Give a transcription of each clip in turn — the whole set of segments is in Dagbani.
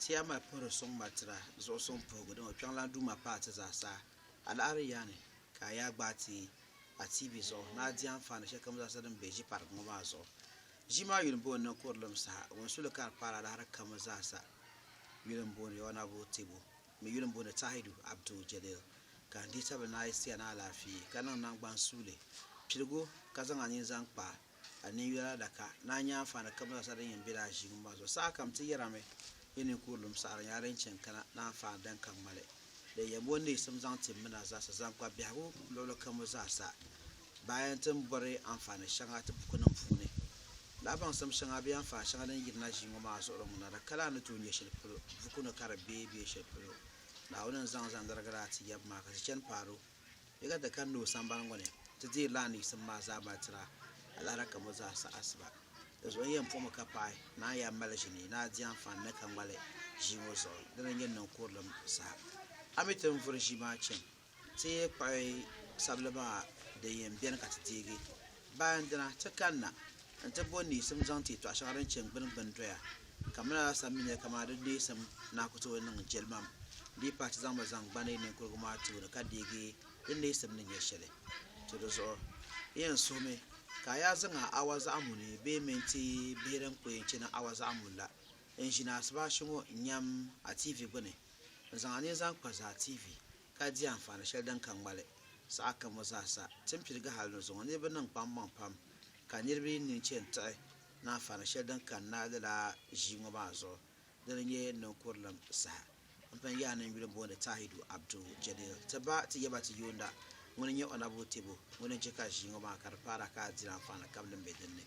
Tiɛma puhiri suŋ matira zuɣu suŋ puhigu din o kpiɔŋlan Duuma paai ti zaa sa. A laɣiri yaa ni ka a yaa gbaai ti a tiibi zuɣu ni a di anfaani shɛlikam zaa sa din be ʒi pariga ŋɔ maa zuɣu. Ʒi maa yuli m-booni ni Kurilim Saha. Ŋun su li ka di paai a laɣiri kam zaa sa yuli m-booni Yawanabu Tibu mi yuli m-booni Tahidu Abdul Jalil. Ka n dihitabili ni a yi sia ni alaafee ka niŋ naŋgban suuli piligu ka zaŋ a nini zaŋ kpa A ninyula adaka ni a nya anfaani kam zaasa din yɛn be lala ʒiinŋɔ maa zuɣu. Sahakam ti yɛrimi yi ninkurulim saɣiri nyɛla din chani kana ni anfaani din ka ŋmali din yɛn bo neesim zaŋ tim mina zaasa zaŋ kpa biɛhigu luɣili kamu zaasa. Bayan ti ni bɔri anfaani shɛŋa ti bukunim puuni, lahi baŋsim shɛŋa bee anfaani shɛŋa din yirina ʒiinŋɔ maa zuɣuri ŋuna di ka lahi ni tooi nyɛ shɛli polo buku ni ka di be bee shɛli polo Naawuni ni zaŋ zaŋ lirigila a ti yaba maa ka ti chani paadu Yi ka ti kani o sambani ŋɔ ni ti deei laa ni yiɣisim maa zaa malitira alaara ka mo zaa sa asiba. Di zuɣu n yɛn puɣimi ka paɣi ni a yaa mali ʒini ni a di anfaani ni ka ŋmali ʒii ŋɔ zuɣu dini n yɛn niŋ kurilim saha. A mi ti ni vuri ʒii maa chani ti kpuɣi sabili maa din yɛn beni ka ti deegi. Baandina, ti kanna nti bo neesim zaŋ ti yi tɔɣ shɛŋa din chɛ n-gbini gbini doya, ka mini alasan mi nɛli kaman di neesim naa ku tooi niŋ jɛlimam, di yi pahi ti zaŋ ma zaŋ gbani ninkurigu maa tooni ka deegi di neesim ni nyɛ shɛli ti di zuɣu. N yɛn suhimi ka a yaa zaŋ a awa zaɣ muni bee mini ti bihi din ku yɛn chani awa zaɣ muni la n-ʒini asibaasi ŋɔ n-nyam a tiivi gbini n-zaŋ a nini zaŋ kpa zaa tiivi. ka di anfaani shɛli din ka ŋmali saha kam ŋɔ zaa sa. Ti ni piligi hal ni zuŋɔ niriba niŋ kpaŋmaŋ pam ka niriba yi nini chɛ n-tiɣi ni anfaani shɛli din kani na lala ʒii ŋɔ maa zuɣu, dini n-nyɛ niŋkurilim saha. M pun yaai ni n yuli booni Tahidu Abdul Jalil ti ba ti yɛba ti yuunda ŋuni n-nyɛ Ɔnabul Tebo ŋuni n-chɛ ka ʒii ŋɔ maa ka di paara ka di diri anfaani kam din be din ni.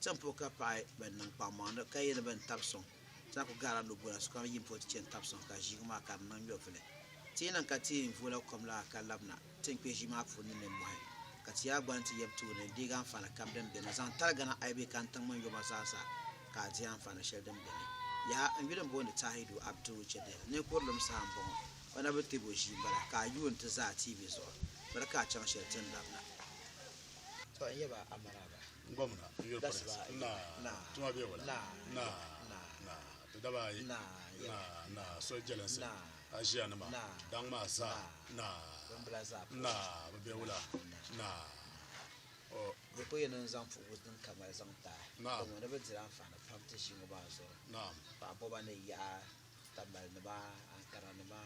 Zaŋ po ka paɣi ban niŋ kpaŋmaŋdi ka yɛ ni bɛn tab sɔŋ zaŋ ku gaara lo bɔla sokam yim po ti chɛ n-tab sɔŋ ka ʒiigu maa ka di niŋ nyɔvili. Ti yi niŋ ka ti yɛn vola kom la ka labina ti ni kpe ʒii maa puuni ni nimmɔhi ka ti yaa gbani ti yab tooni deegi anfaani kam din beni zaŋ taligina ayi bee ka n tiŋ mini yoma zaa sa ka a di anfaani shɛli din beni. Yaha! N yuli m-booni Tahidu Abdul Jadil. Ninkurilim saha m-bɔŋɔ. O na bi ti bo ʒii m-bala ka a yuun ti za a tiivi zuɣu biri ka a chaŋ shɛli ti ni labina. To n yɛba Amaraaba. Gomna n yuli pɔlinsi naa tuma bɛ wula naa ti daba ayi naa so jɛlinsi aziya nima daŋ maa zaa naa bi bɛ wula naa o di ko yɛno n zaŋ puhibu din ka mali zaŋ ti a gamo ni bi diri anfaani pam ti ʒii ŋɔ maa zuɣu paɣa bɔba ni yaɣa tambali nima ankara nima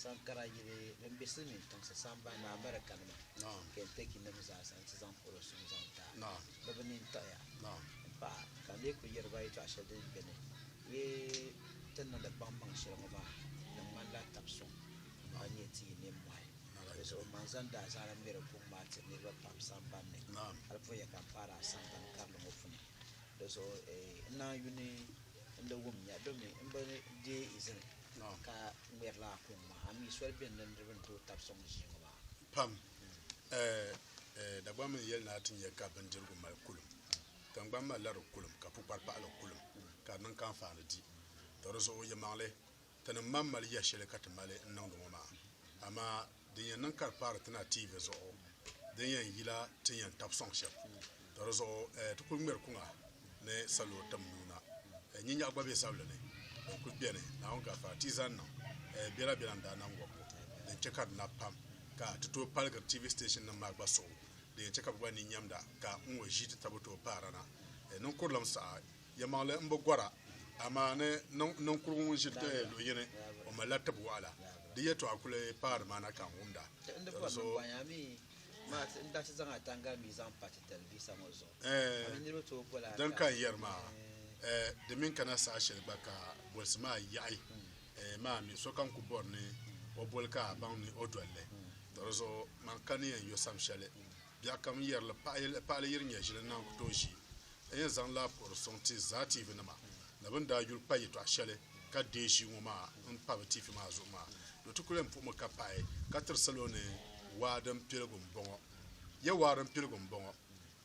Sankara yili din be silimiin tiŋsi sambani ni America nima Kentucky nim zaasa n ti zaŋ polo suŋ zaŋ taai bɛ bi nini tiɣi ya m paɣa ka n lee kuli yeri ba yetɔɣa sheli din be ni yi ti niŋdi kpaŋmaŋ sheli ŋɔ maa di ŋmanila tab suŋ ka nyɛ ti yi ninmohi di zuɣu man zaŋ daa zaana ŋmeri kuŋ maa tiri niriba pam sambani ni hali pun ya ka m paari a sambani karili ŋɔ puni di zuɣu n naan yuni n di wum nya domi m bi deei izini ka ŋmeri la a kuŋ maa, ami soli beni la niriba ni tooi tabi sɔŋ ʒii ŋɔ maa? Pam. Ɛɛh, Dagbaŋ mini yɛli ni a ti nya ka bindirigu mali kulim, tiŋgbani malila di kulim, ka pukpari paɣila kulim, ka di niŋ ka anfaani di. Tɔ di zuɣu, yɛlimaŋli, tinim mam mali yɛshɛli ka ti mali n-niŋdi ŋɔ maa, amaa din yɛn niŋ ka di kpaari ti na TV zuɣu din yɛn yila ti ni yɛn tabi sɔŋ shɛm ka di zuɣu ti kuli ŋmɛri kuŋa ni salo tim nuu na nyinyɛɣu gba be zabili ni din kuli beni Naawuni gafara ti zani niŋ bela bela n daa nam wɔbigu din che ka di nabi pam ka ti tooi paligiri TV station nim maa gba suɣu din yɛn che ka bɛ gba ni nyɛmda ka ŋ-ŋɔ ʒii ti tabo tooi paara na niŋ kurilim saha Yɛlimaŋli n bi gɔra, amaa ni ninkurugu ŋun ʒi luɣ yini, o malila tib wɔɣila. Di yɛtɔɣa kuli paai nimaani ka n wumda. Ɛɛ, din ka n yɛri maa, di mi n-kana saha shɛli gba ka bolisi maa yaɣi maa mi, sokam ku bɔri ni o boli ka a baŋ ni o dol li. Tɔ di zuɣu man ka ni yɛn yo sam shɛli. Biɛkam yɛrili paɣili yiri nyɛʒili naan ku tooi ʒi n yɛn zaŋ laa puhiri sɔŋ ti zaa tiivi nima ni bɛ ni daa yuli kpa yɛtɔɣ shɛli ka deei ʒii ŋɔ maa n pa bɛ tiivi maa zuɣu maa do ti ku lan puhimi ka pahi ka tiri salo ni waa din piligu m-bɔŋɔ. Ya waa din piligu m-bɔŋɔ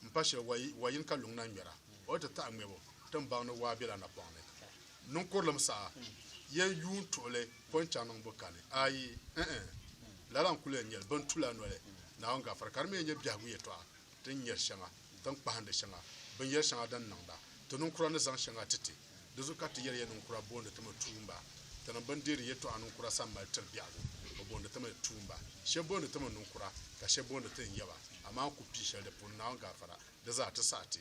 m-pa shɛli wa yini ka luŋ na ŋmɛra o ni ti taɣi ŋmɛbu tiŋbaŋ ni waa bela napɔŋ ni. Niŋkurilim saha, yen yuun tuɣili ko n-chaŋ niŋbu kani? Aai! Ŋ-ŋ! Lala n-kuli yɛn nyɛli bɛ ni tu la noli Naawuni gafara, ka di mi yɛn nyɛ biɛhigu yɛtɔɣa ti ni nyari shɛŋa, ti ni kpahindi shɛŋa, binyɛr shɛŋa din niŋda, ti niŋkura ni zaŋ shɛŋa ti ti. Di zuɣu ka ti yɛli ya niŋkura boondi ti mi tuumba. Tinim bɛ ni deeri yɛtɔɣa niŋkura sani mali tiri biɛhigu, bɛ boondi ti mi tuumba. Shɛb boondi ti mi niŋkura, ka shɛb boondi ti ni yaba, amaa n ku pii shɛli di puuni Naawuni gafara, di zaa ti saɣi ti.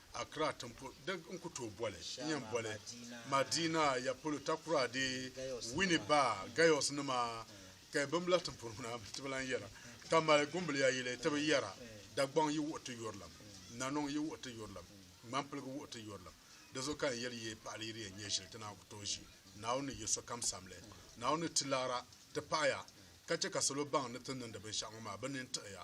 Accra tiŋpol Deg n ku tooi boli n yɛn boli Madina ya polo Takoradi Winneba Gayos nima Ka yi bimbila tiŋpol ŋuna mi ti bi lan yɛra Ka mali gumbiliya yili ti bi yɛra Dagbaŋ yi wuhi ti yurilim Nanɔŋ yi wuhi ti yurilim Ŋmanpiligu wuhi ti yurilim Di zuɣu ka n yɛli yi paɣili yi di yɛn nyɛ shili ti naan ku tooi ʒi Naawuni ni yi sokam samli Naawuni ni ti laara ti paɣiya ka chɛ ka salo baŋ ni ti niŋdi binshɛɣu ŋɔ maa bɛ nini tiɣiya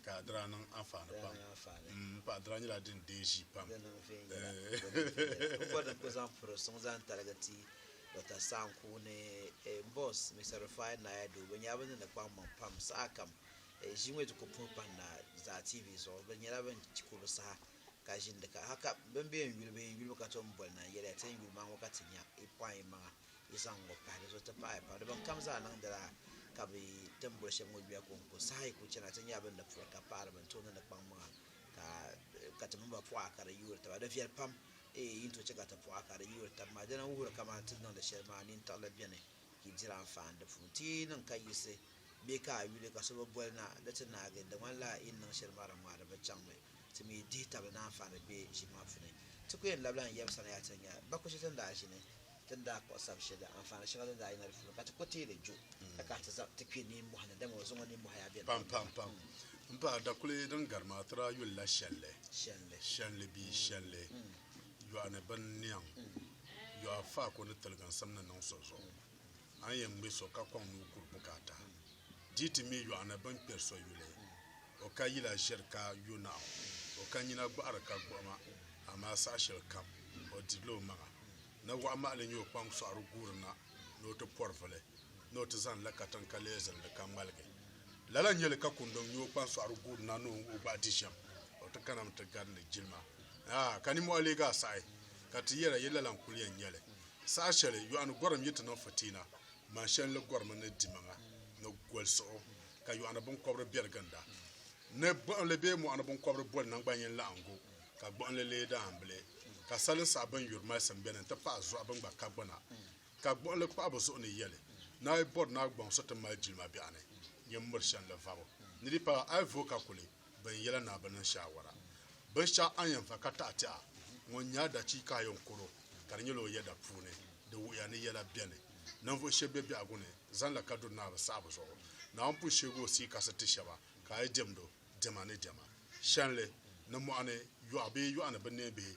Ka a dira niŋ anfaani pam. M paɣa dira nyɛla din deei ʒii pam. Di niŋ viɛnyɛla ni di bi viɛnyɛla. N bɔri ni n ku zaŋ piri suŋ zaŋ taligi ti Dɔkta Sanku ni m bɔs Mister Rufai Naya Doo. Bɛ nyɛla bɛ ni ni kpaŋ maŋ pam sahakam. Ʒii ŋɔ yi ti ku puhi pahi na Zaa TV zuɣu, bɛ nyɛla bɛ ni ku bi saha ka ʒindi ka haka bɛ ni be n yuli bɛ yi yuli mi ka tom boli na n yɛli ya ti n yuli ma ŋɔ ka ti nya yi pɔin yimaŋa. yi zaŋ ŋɔ pahi di zuɣu ti paɣi pam di bin kam zaa niŋdila ka bi tin boli shɛba ŋɔ yuya kɔŋko saha yi ku chana ti nyɛla bin di puri ka paɣiri bin tooi niŋdi kpaŋ maŋa ka ti mini ba pɔɣa ka di yoori taba di viɛli pam eei yi ni tooi chɛ ka ti pɔɣa ka di yoori tabi maa dina n wuhiri kamani ti ni niŋdi shɛli maa nintirili bɛni ka yi diri anfaani di puuni ti yi niŋ ka yiɣisi bee ka a yuli ka so bi boli na di ti naagi di ŋmanila yi ni niŋ shɛli maa di ŋmaa di bi chaŋmi ti mi dihi tabili ni anfaani bɛ ʒini maa puuni ti ku yɛn labila n yaba sani yaha ti ni nya ba ku chɛ ti ni daa ʒini ti ni daa kpuɣi sabi shɛli anfaani shɛŋa din daa yina di puuni ka ti ku teei li ju ka kahi ti zaŋ ti kpe nimmɔhi ni, dama o zuŋɔ nimmɔhi yaa beni pam pam pam. M paɣa dakuli din gari maa ti daa yuli la shɛnli, shɛnli, shɛnli bia shɛnli yɔɣu ni bini niɛŋ yɔɣu faako ni tiliginsim ni niŋ so zuɣu. A ni yɛn ŋme so ka kɔŋ ni o kuri bukaata, di ti mi yɔɣu ni bini kpɛri so yuli. O ka yila ʒiri ka yo naɣu, o ka nyina gɔɣiri ka gbuɣima, amaa saha shɛli kam o dirila o maŋa. Ni waɣa mahili nyɛ o kpaŋ sɔɣiri guuri na ni o ti pɔri vuli, ni o ti zaŋ la katiŋ ka leei zilindi ka ŋmaligi. Lala n-nyɛ li ka kundiŋ nyɛ o kpaŋ sɔɣiri guuri na ni o ŋ-o gbahi di shɛm, o ti kana mi ti garindi jilima. Aa! Ka ninmɔɣu leegi a saɣi, ka ti yɛra, Yi lala n-kul yɛn nya li? Saha shɛli yɔɣu ni gɔrim yi ti niŋ fitiina, man shɛli ni gɔrimi ni dimaŋa ni goli suɣu, ka yɔɣu ni binkɔbiri be di ginda. Ni gbuɣinli bee mɔɣuni binkɔbiri boli naŋgbanyin laɣingu, ka gbuɣinli leei daambili. Ka salin saha bɛn yuri malisim beni n-ti pahi zuɣa bɛn gba ka gbuna. Ka gbuɣinli kpuɣi bɛ zuɣu ni yɛli, Ni a yi bɔri ni a gbaŋ so ti mali jilima biɛɣuni, nyin miri shɛnli vabo. Ni di paai, a yi vooi ka kuli. Bɛ yɛla ni a bi niŋ shaawara binshɛɣu a ni yɛn va ka taɣi ti a ŋun nyɛ a dachiika a yɛn koro ka di nyɛla o yɛda puuni di wuhiya ni yɛla beni. Ninvuɣ shɛb be biɛhigu ni zanila ka duri Naawuni saɣibu zuɣu. Naawuni pun sheegi o sia kasi ti shɛba ka a yi diɛmd o diɛma ni diɛma shɛnli ni mɔɣu ni yɔɣu bee yɔɣu ni binneembihi.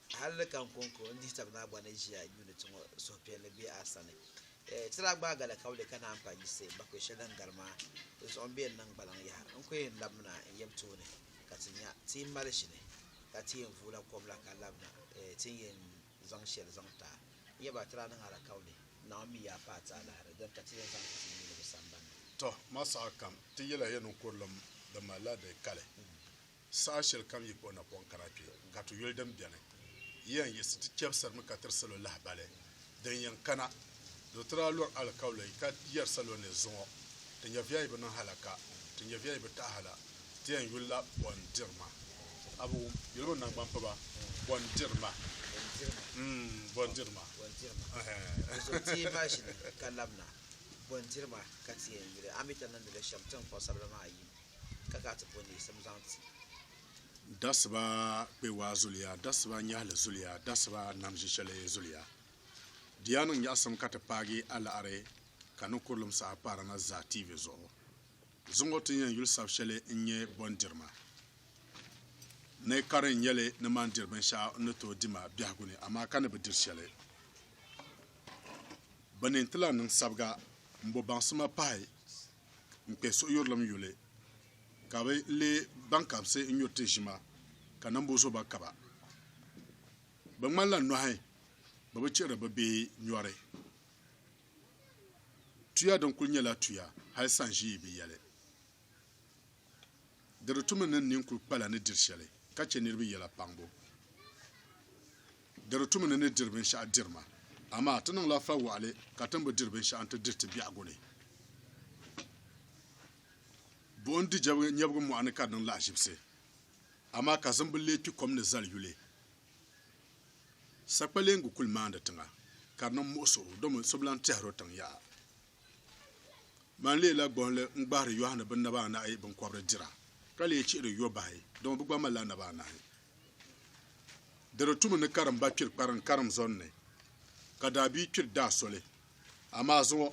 Hal di ka n ko n ko n-dihi tab ni a gba ni ʒiya yuuni ti ŋɔ suhupiɛlli be a sani. Ti daa gbaai gali ka wuli ka naan pa yiɣisi bakɔi shɛli din gari maa zuɣu m-be n niŋ gbaliŋ yaha. N ko yɛn labina n yab tooni ka ti nya ti yi mali ʒini ka ti yɛn vuula kom la ka labina ti ni yɛn zaŋ shɛli zaŋ ti a. N yaba ti daa niŋ a la ka wuli, Naawuni mi yaa paai ti alahiri dini ka ti yɛn zaŋ ti ti yuuni bɛ sambani ni. Tɔ! Ma saha kam ti yɛla ya ni kurilim di malila di kali. Saha shɛli kam yi kpuɣi napɔŋ kana kpe ka ti yuli din beni, yi yɛn yiɣisi ti chɛbisirimi ka tiri salo lahibali din yɛn kana. Do ti daa lɔri alikauli ka yɛri salo ni, Zuŋɔ ti nyɛviya yi bi niŋ hala ka, ti nyɛviya yi bi taɣi hala, ti yɛn yuli la bɔndirima. A bi wum yuli mi naŋgban piba? Bɔndirima. Bɔndirima. Di zuɣu ti yi bahi ʒini ka labina, bɔndirima ka ti yɛn yuli, a mi ti niŋdi li shɛm tiŋkpuɣ sabila maa yim. ka ka ti bo neesim zaŋ ti. Dasiba kpewaa zuliya, dasiba nyɛhili zuliya, dasiba nam ʒishɛli zuliya. Di yaa niŋ nyaɣisim ka ti paagi alaɣiri ka ni kurilim saha paara na zaa TV zuɣu. Zuŋɔ ti ni yɛn yuli sabi shɛli n-nyɛ Bɔndirima. Ni kari n-nyɛ li ni mani diri binshɛɣu n-ni tooi di ma biɛhigu ni amaa ka ni bi diri shɛli. Bɛ ni nti lahi niŋ sabiga m-bo baŋsima pahi n kpɛ suhuyurilim yuli, ka bɛ leei baŋkabisi n-nyuri ti ʒima, ka nambu zo ba kaba. Bɛ ŋmanila nɔhi bɛ bi chihiri bɛ bee nyɔri. Tuya din kul nyɛla tuya, hal sanʒii bi yɛli. Di di tumdi ni nin kul kpala ni diri shɛli ka chɛ niriba yɛla kpaŋbu. Di di tumdi ni diri binshɛɣu diri ma. Amaa ti niŋla fa wɔɣili ka ti ni bi diri binshɛɣu n-ti diri ti biɛhigu ni. Buɣim di nyɛbigu mɔɣu ni ka di niŋ lahiʒibisi, amaa kazim bi lee kpi kom ni zali yuli. Sakpaleeŋgu kul maandi tiŋa ka di niŋ muɣisigu, domi so bi lan tɛhir o tiŋ yaha. Ban leei la gbuɣinli n-gbahiri Yɔhana bɛ naba anahi binkɔbiri dira, ka leei chihiri yɔ bahi, dama bɛ gba malila naba anahi. Di di tumi ni karimba kpiri kpariŋ karim zɔn ni, ka daabia kpiri daa soli. Amaa zuŋɔ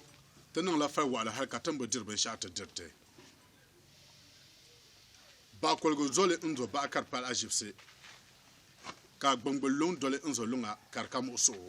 ti niŋla fai waɣila hal ka ti ni bi diri binshɛɣu ti diri ti. Baɣ koligu zoli n-zo baɣa ka di pali aʒibisi, ka gbiŋgbil luŋ doli n-zo luŋa ka di ka muɣisiɣu.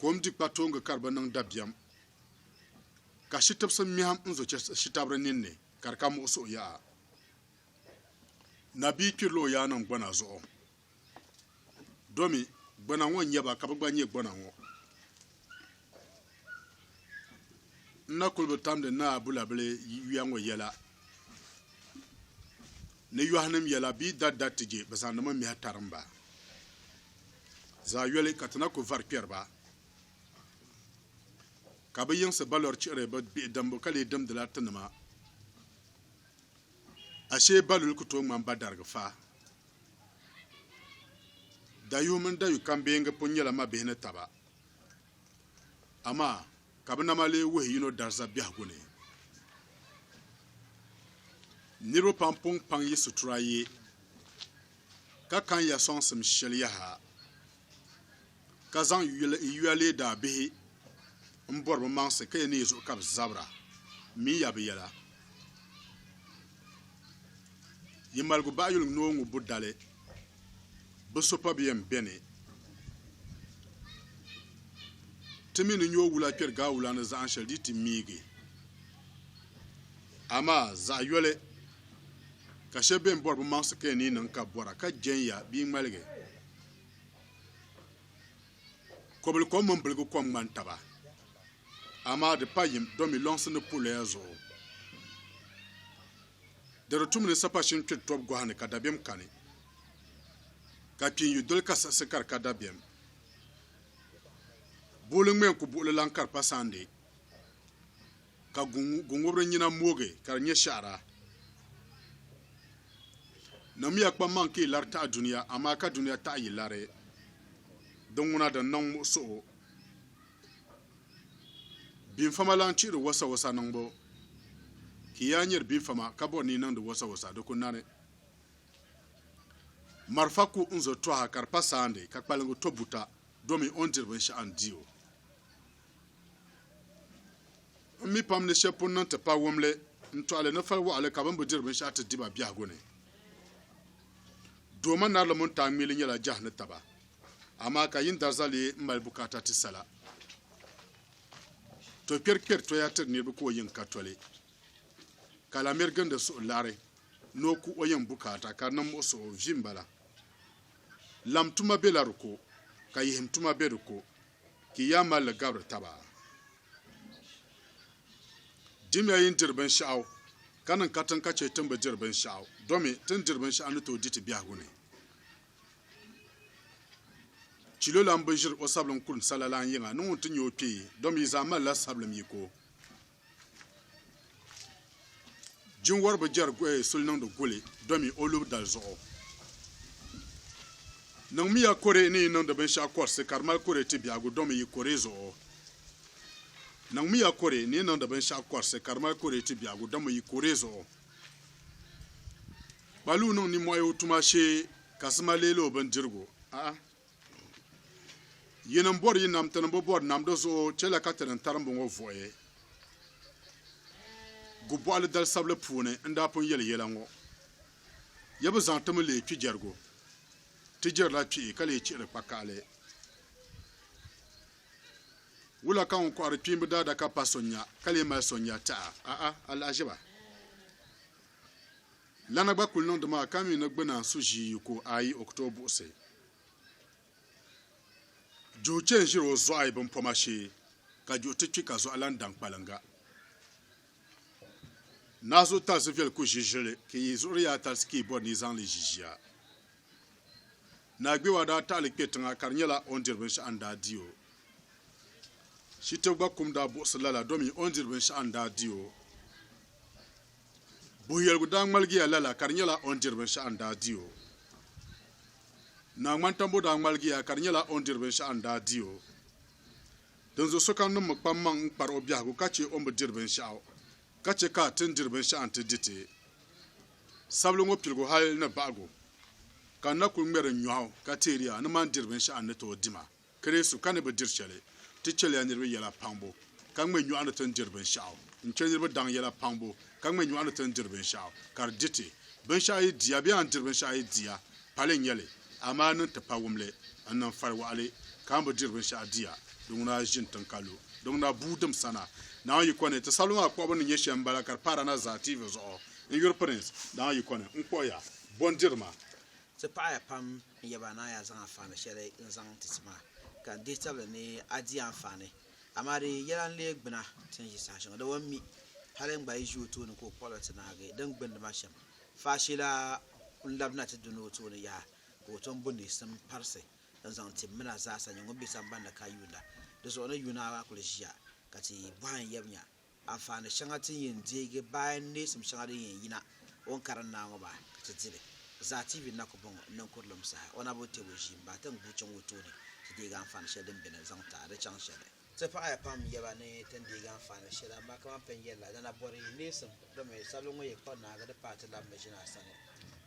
Kom di kpatooŋgi ka di bi niŋ dabiɛm, ka shitibisi mɛhim n-zo chɛ shitabiri ninni ka di ka muɣi suhu yaha. Nabia kpirila o yaannim gbana zuɣu, domi gbana ŋɔ n-nyɛ ba ka bɛ gba nyɛ gbana ŋɔ. N na kuli bi tamdi Naa Bulabili yuya ŋɔ yɛla ni yɔhinim yɛla bee dada ti je bɛ zaŋdi ma mihi tarim ba. Zaayoli ka ti na ku vari kpɛri ba, ka bɛ yiŋsi ba lɔri chihiri bɛ bihi dimbu ka lee dimdila tinima. Ashee ba luli ku tooi ŋmani ba darigi fa. Dayuhi mini dayukambeengi pun nyɛla mabihi ni taba. Amaa ka bɛ nama lee wuhi yino dariza biɛhigu ni. Niriba pam pun kpaŋ yi sutura ye, ka kan ya sɔŋsim shɛli yaha, ka zaŋ yuya lee daabihi m-bɔri bɛ maŋsi ka ya ni yi zuɣu ka bɛ zabira min ya bɛ yɛla. Yi maligu baɣiyuli ŋ-ni o ŋubbu dali. bi so pa bi yɛn bɛni ti mi ni nyoo wula kpɛri gaa wula ni zaɣan shɛli di ti miigi amaa zaɣ yɔli ka shɛba bɛn bɔri bi maŋsi ka yɛn ni niŋ ka bɔra ka jɛnya bia ŋmaligi kɔbili kom mini biligi kom ŋmani taba amaa di pa yim domi lɔŋsi ni puliya zuɣu Di di tum ni sapa shini kpiri tɔbu gɔhi ni ka dabiɛm kani, ka kpin yu doli ka siɣisi ka di ka dabiɛm. Buɣili ŋmɛ n-ku buɣili laŋ ka di pa sandi, ka guŋubiri nyina moogi ka di nyɛ shɛhira. Namiya kpam maŋ ka yi lari taɣi dunia, amaa ka dunia taɣi yi lari. Di ŋuna din niŋ muɣisiɣu. Binfama lan chihiri wasawasa niŋbu. Ki yaa nyari binfama ka bɔri ni yi niŋdi wasawasa, di ku nani. Marafa ku n-zo tɔha ka di pa saandi, ka kpaliŋgu to buta, domin o ni diri binshɛɣu n-di o. M mi pam ni shɛb pun niŋ ti pa wumli, n-tɔɣili ni fal wɔɣili ka bɛn bi diri binshɛɣu ti di ba biɛhigu ni. Doo ma narili mini taa ŋmili nyɛla jɛhi ni taba. Amaa ka yin darza lee m-mali bukaata ti sala. To kpɛri kpɛri toya tiri niriba ka o yiŋ ka toli, ka la miri gindi suhu lari ni o ku o yiŋ bukaata ka di niŋ muɣisiɣu vi m-bala. Lam tuma bela di ko, ka yihim tuma be di ko, ka yi yaa mali li gabiri taba. Dimiya yi ni diri binshɛɣu, ka niŋ katiŋ ka chɛ ti ni bi diri binshɛɣu, domi ti ni diri binshɛɣu ni tooi di ti biɛhigu ni. Chilo lan bi ʒiri o sabilim kurim sa lala n-yiŋa ni ŋun ti nya o kpee, domi yi zaa malila sabilim yiko. Jinwɔri bi jɛri eh, suli niŋdi guli, domi o lubi dali zuɣu. Niŋmiya kore ni yi niŋdi binshɛɣu kɔrisi ka di mali kore ti biɛhigu, domi yi kore zuɣu. Niŋmiya kore ni yi niŋdi binshɛɣu kɔrisi ka di mali kore ti biɛhigu, domi yi kore zuɣu. Kpaluu niŋ nimmohi o tuma shee ka sima leeli o bindirigu. A'a. Yini m-bɔri yi nam ti ni bi bɔri nam di zuɣu chɛla ka ti ni tarimbu ŋɔ vuɣi Gubɔɣili dalisabili puuni n-daa pun yɛli yɛla ŋɔ. Ya bi zaŋ ti mi leei kpijɛrigu. Ti jɛrila kpihi ka lee chihiri kpaka'ali. Wula ka ŋun kɔhiri kpiimba daadaka pa so nya ka lee mali so nya tɛha? A'a, alahiʒiba lana gba kul niŋdi maa ka mi ni gbuna n-su ʒii yi ku o ayi o ku tooi buɣisi juhi chɛ n-ʒiri o zɔɣi bimpɔma shee ka juhi ti kpi ka zɔɣi lan daŋ kpaliŋga. Naazuu talisi viɛli ku ʒi ʒili, ka yi zuɣuri yaa talisi ka yi bɔri ni yi zaŋ li ʒi ʒiya. Naa Gbewa daa taɣili kpe tiŋa ka di nyɛla o ni diri binshɛɣu n-daa di o. Shitib gba kum daa buɣisi lala domi o ni diri binshɛɣu n-daa di o. Buhiyɛligu daa ŋmaligiya lala ka di nyɛla o ni diri binshɛɣu n-daa di o. Naa Ŋmantambo daa ŋmaligiya ka di nyɛla o ni diri binshɛɣu n-daa di o. Dinzuɣu sokam niŋmi kpammaŋ n-kpari o biɛhigu ka chɛ o ni bi diri binshɛɣu. Ka chɛ ka ti ni diri binshɛɣu nti di ti sabili ŋɔ piligu hal ni baɣigu, ka n na kul ŋmɛri n nyɔɣu ka teeri ya ni mani diri binshɛɣu n ni tooi di ma. Kirɛsu, ka ni bi diri shɛli, ti chɛli ya niriba yɛla paŋbu, ka ŋme nyɔɣu ni ti ni diri binshɛɣu. N chɛ niriba daŋ yɛla paŋbu, ka ŋme nyɔɣu ni ti ni diri binshɛɣu, ka di di ti. Binshɛɣu yi di ya bee a ni diri binshɛɣu yi di ya, Pali n-nyɛ li, amaa ni n ti pa wumli n niŋ fari waɣili, ka n bi diri binshɛɣu di ya, di ŋuna ʒini tiŋ ka lu. Di ŋuna bua dim sana. Naawuni yiko ni, ti sabili maa kpuɣibu ni nyɛ shɛm m-bala ka di paara na zaa TV zuɣu. N yuri Pirinsi, Naawuni yiko ni, n kpuɣi ya. Bo n-diri ma? Ti paɣi ya pam n yɛba ni a yaa zaŋ anfaani shɛli n zaŋ ti ti maa, ka n dihi tabili ni a di anfaani. Amaa di yɛla n leei gbuna ti ni ʒi saha shɛŋa. Dama m mi hali n gba yi ʒi o tooni ka o kpuɣi la ti naagi din gbindi ma shɛm. Faashila kul labina ti duni o tooni yaha, ka o tom bo niɣisim parisi n-zaŋ ti mina zaasa nyɛ ŋun be samban ni ka yuunda. Di zuɣu ni yuuna maa kul ʒiya, ka ti bɔhim yab nya anfaani shɛŋa ti ni yɛn deegi bayan neesim shɛŋa din yɛn yina o ni karim naa ŋɔ maa, ka ti di li. Zaa TV na ku bɔŋ niŋkurilim saha o na bi tɛb o ʒiimba tiŋ buɣichiŋ o tooni ti deegi anfaani shɛli din beni zaŋ ti a di chaŋ shɛli. Ti paɣiya pam yɛ ba ni ti ni deegi anfaani shɛli amaa kaman pɛ n-yɛli la, dana bɔri neesim domi sabili ŋɔ yɛ kpari naagi di paai ti labimi ʒini a sani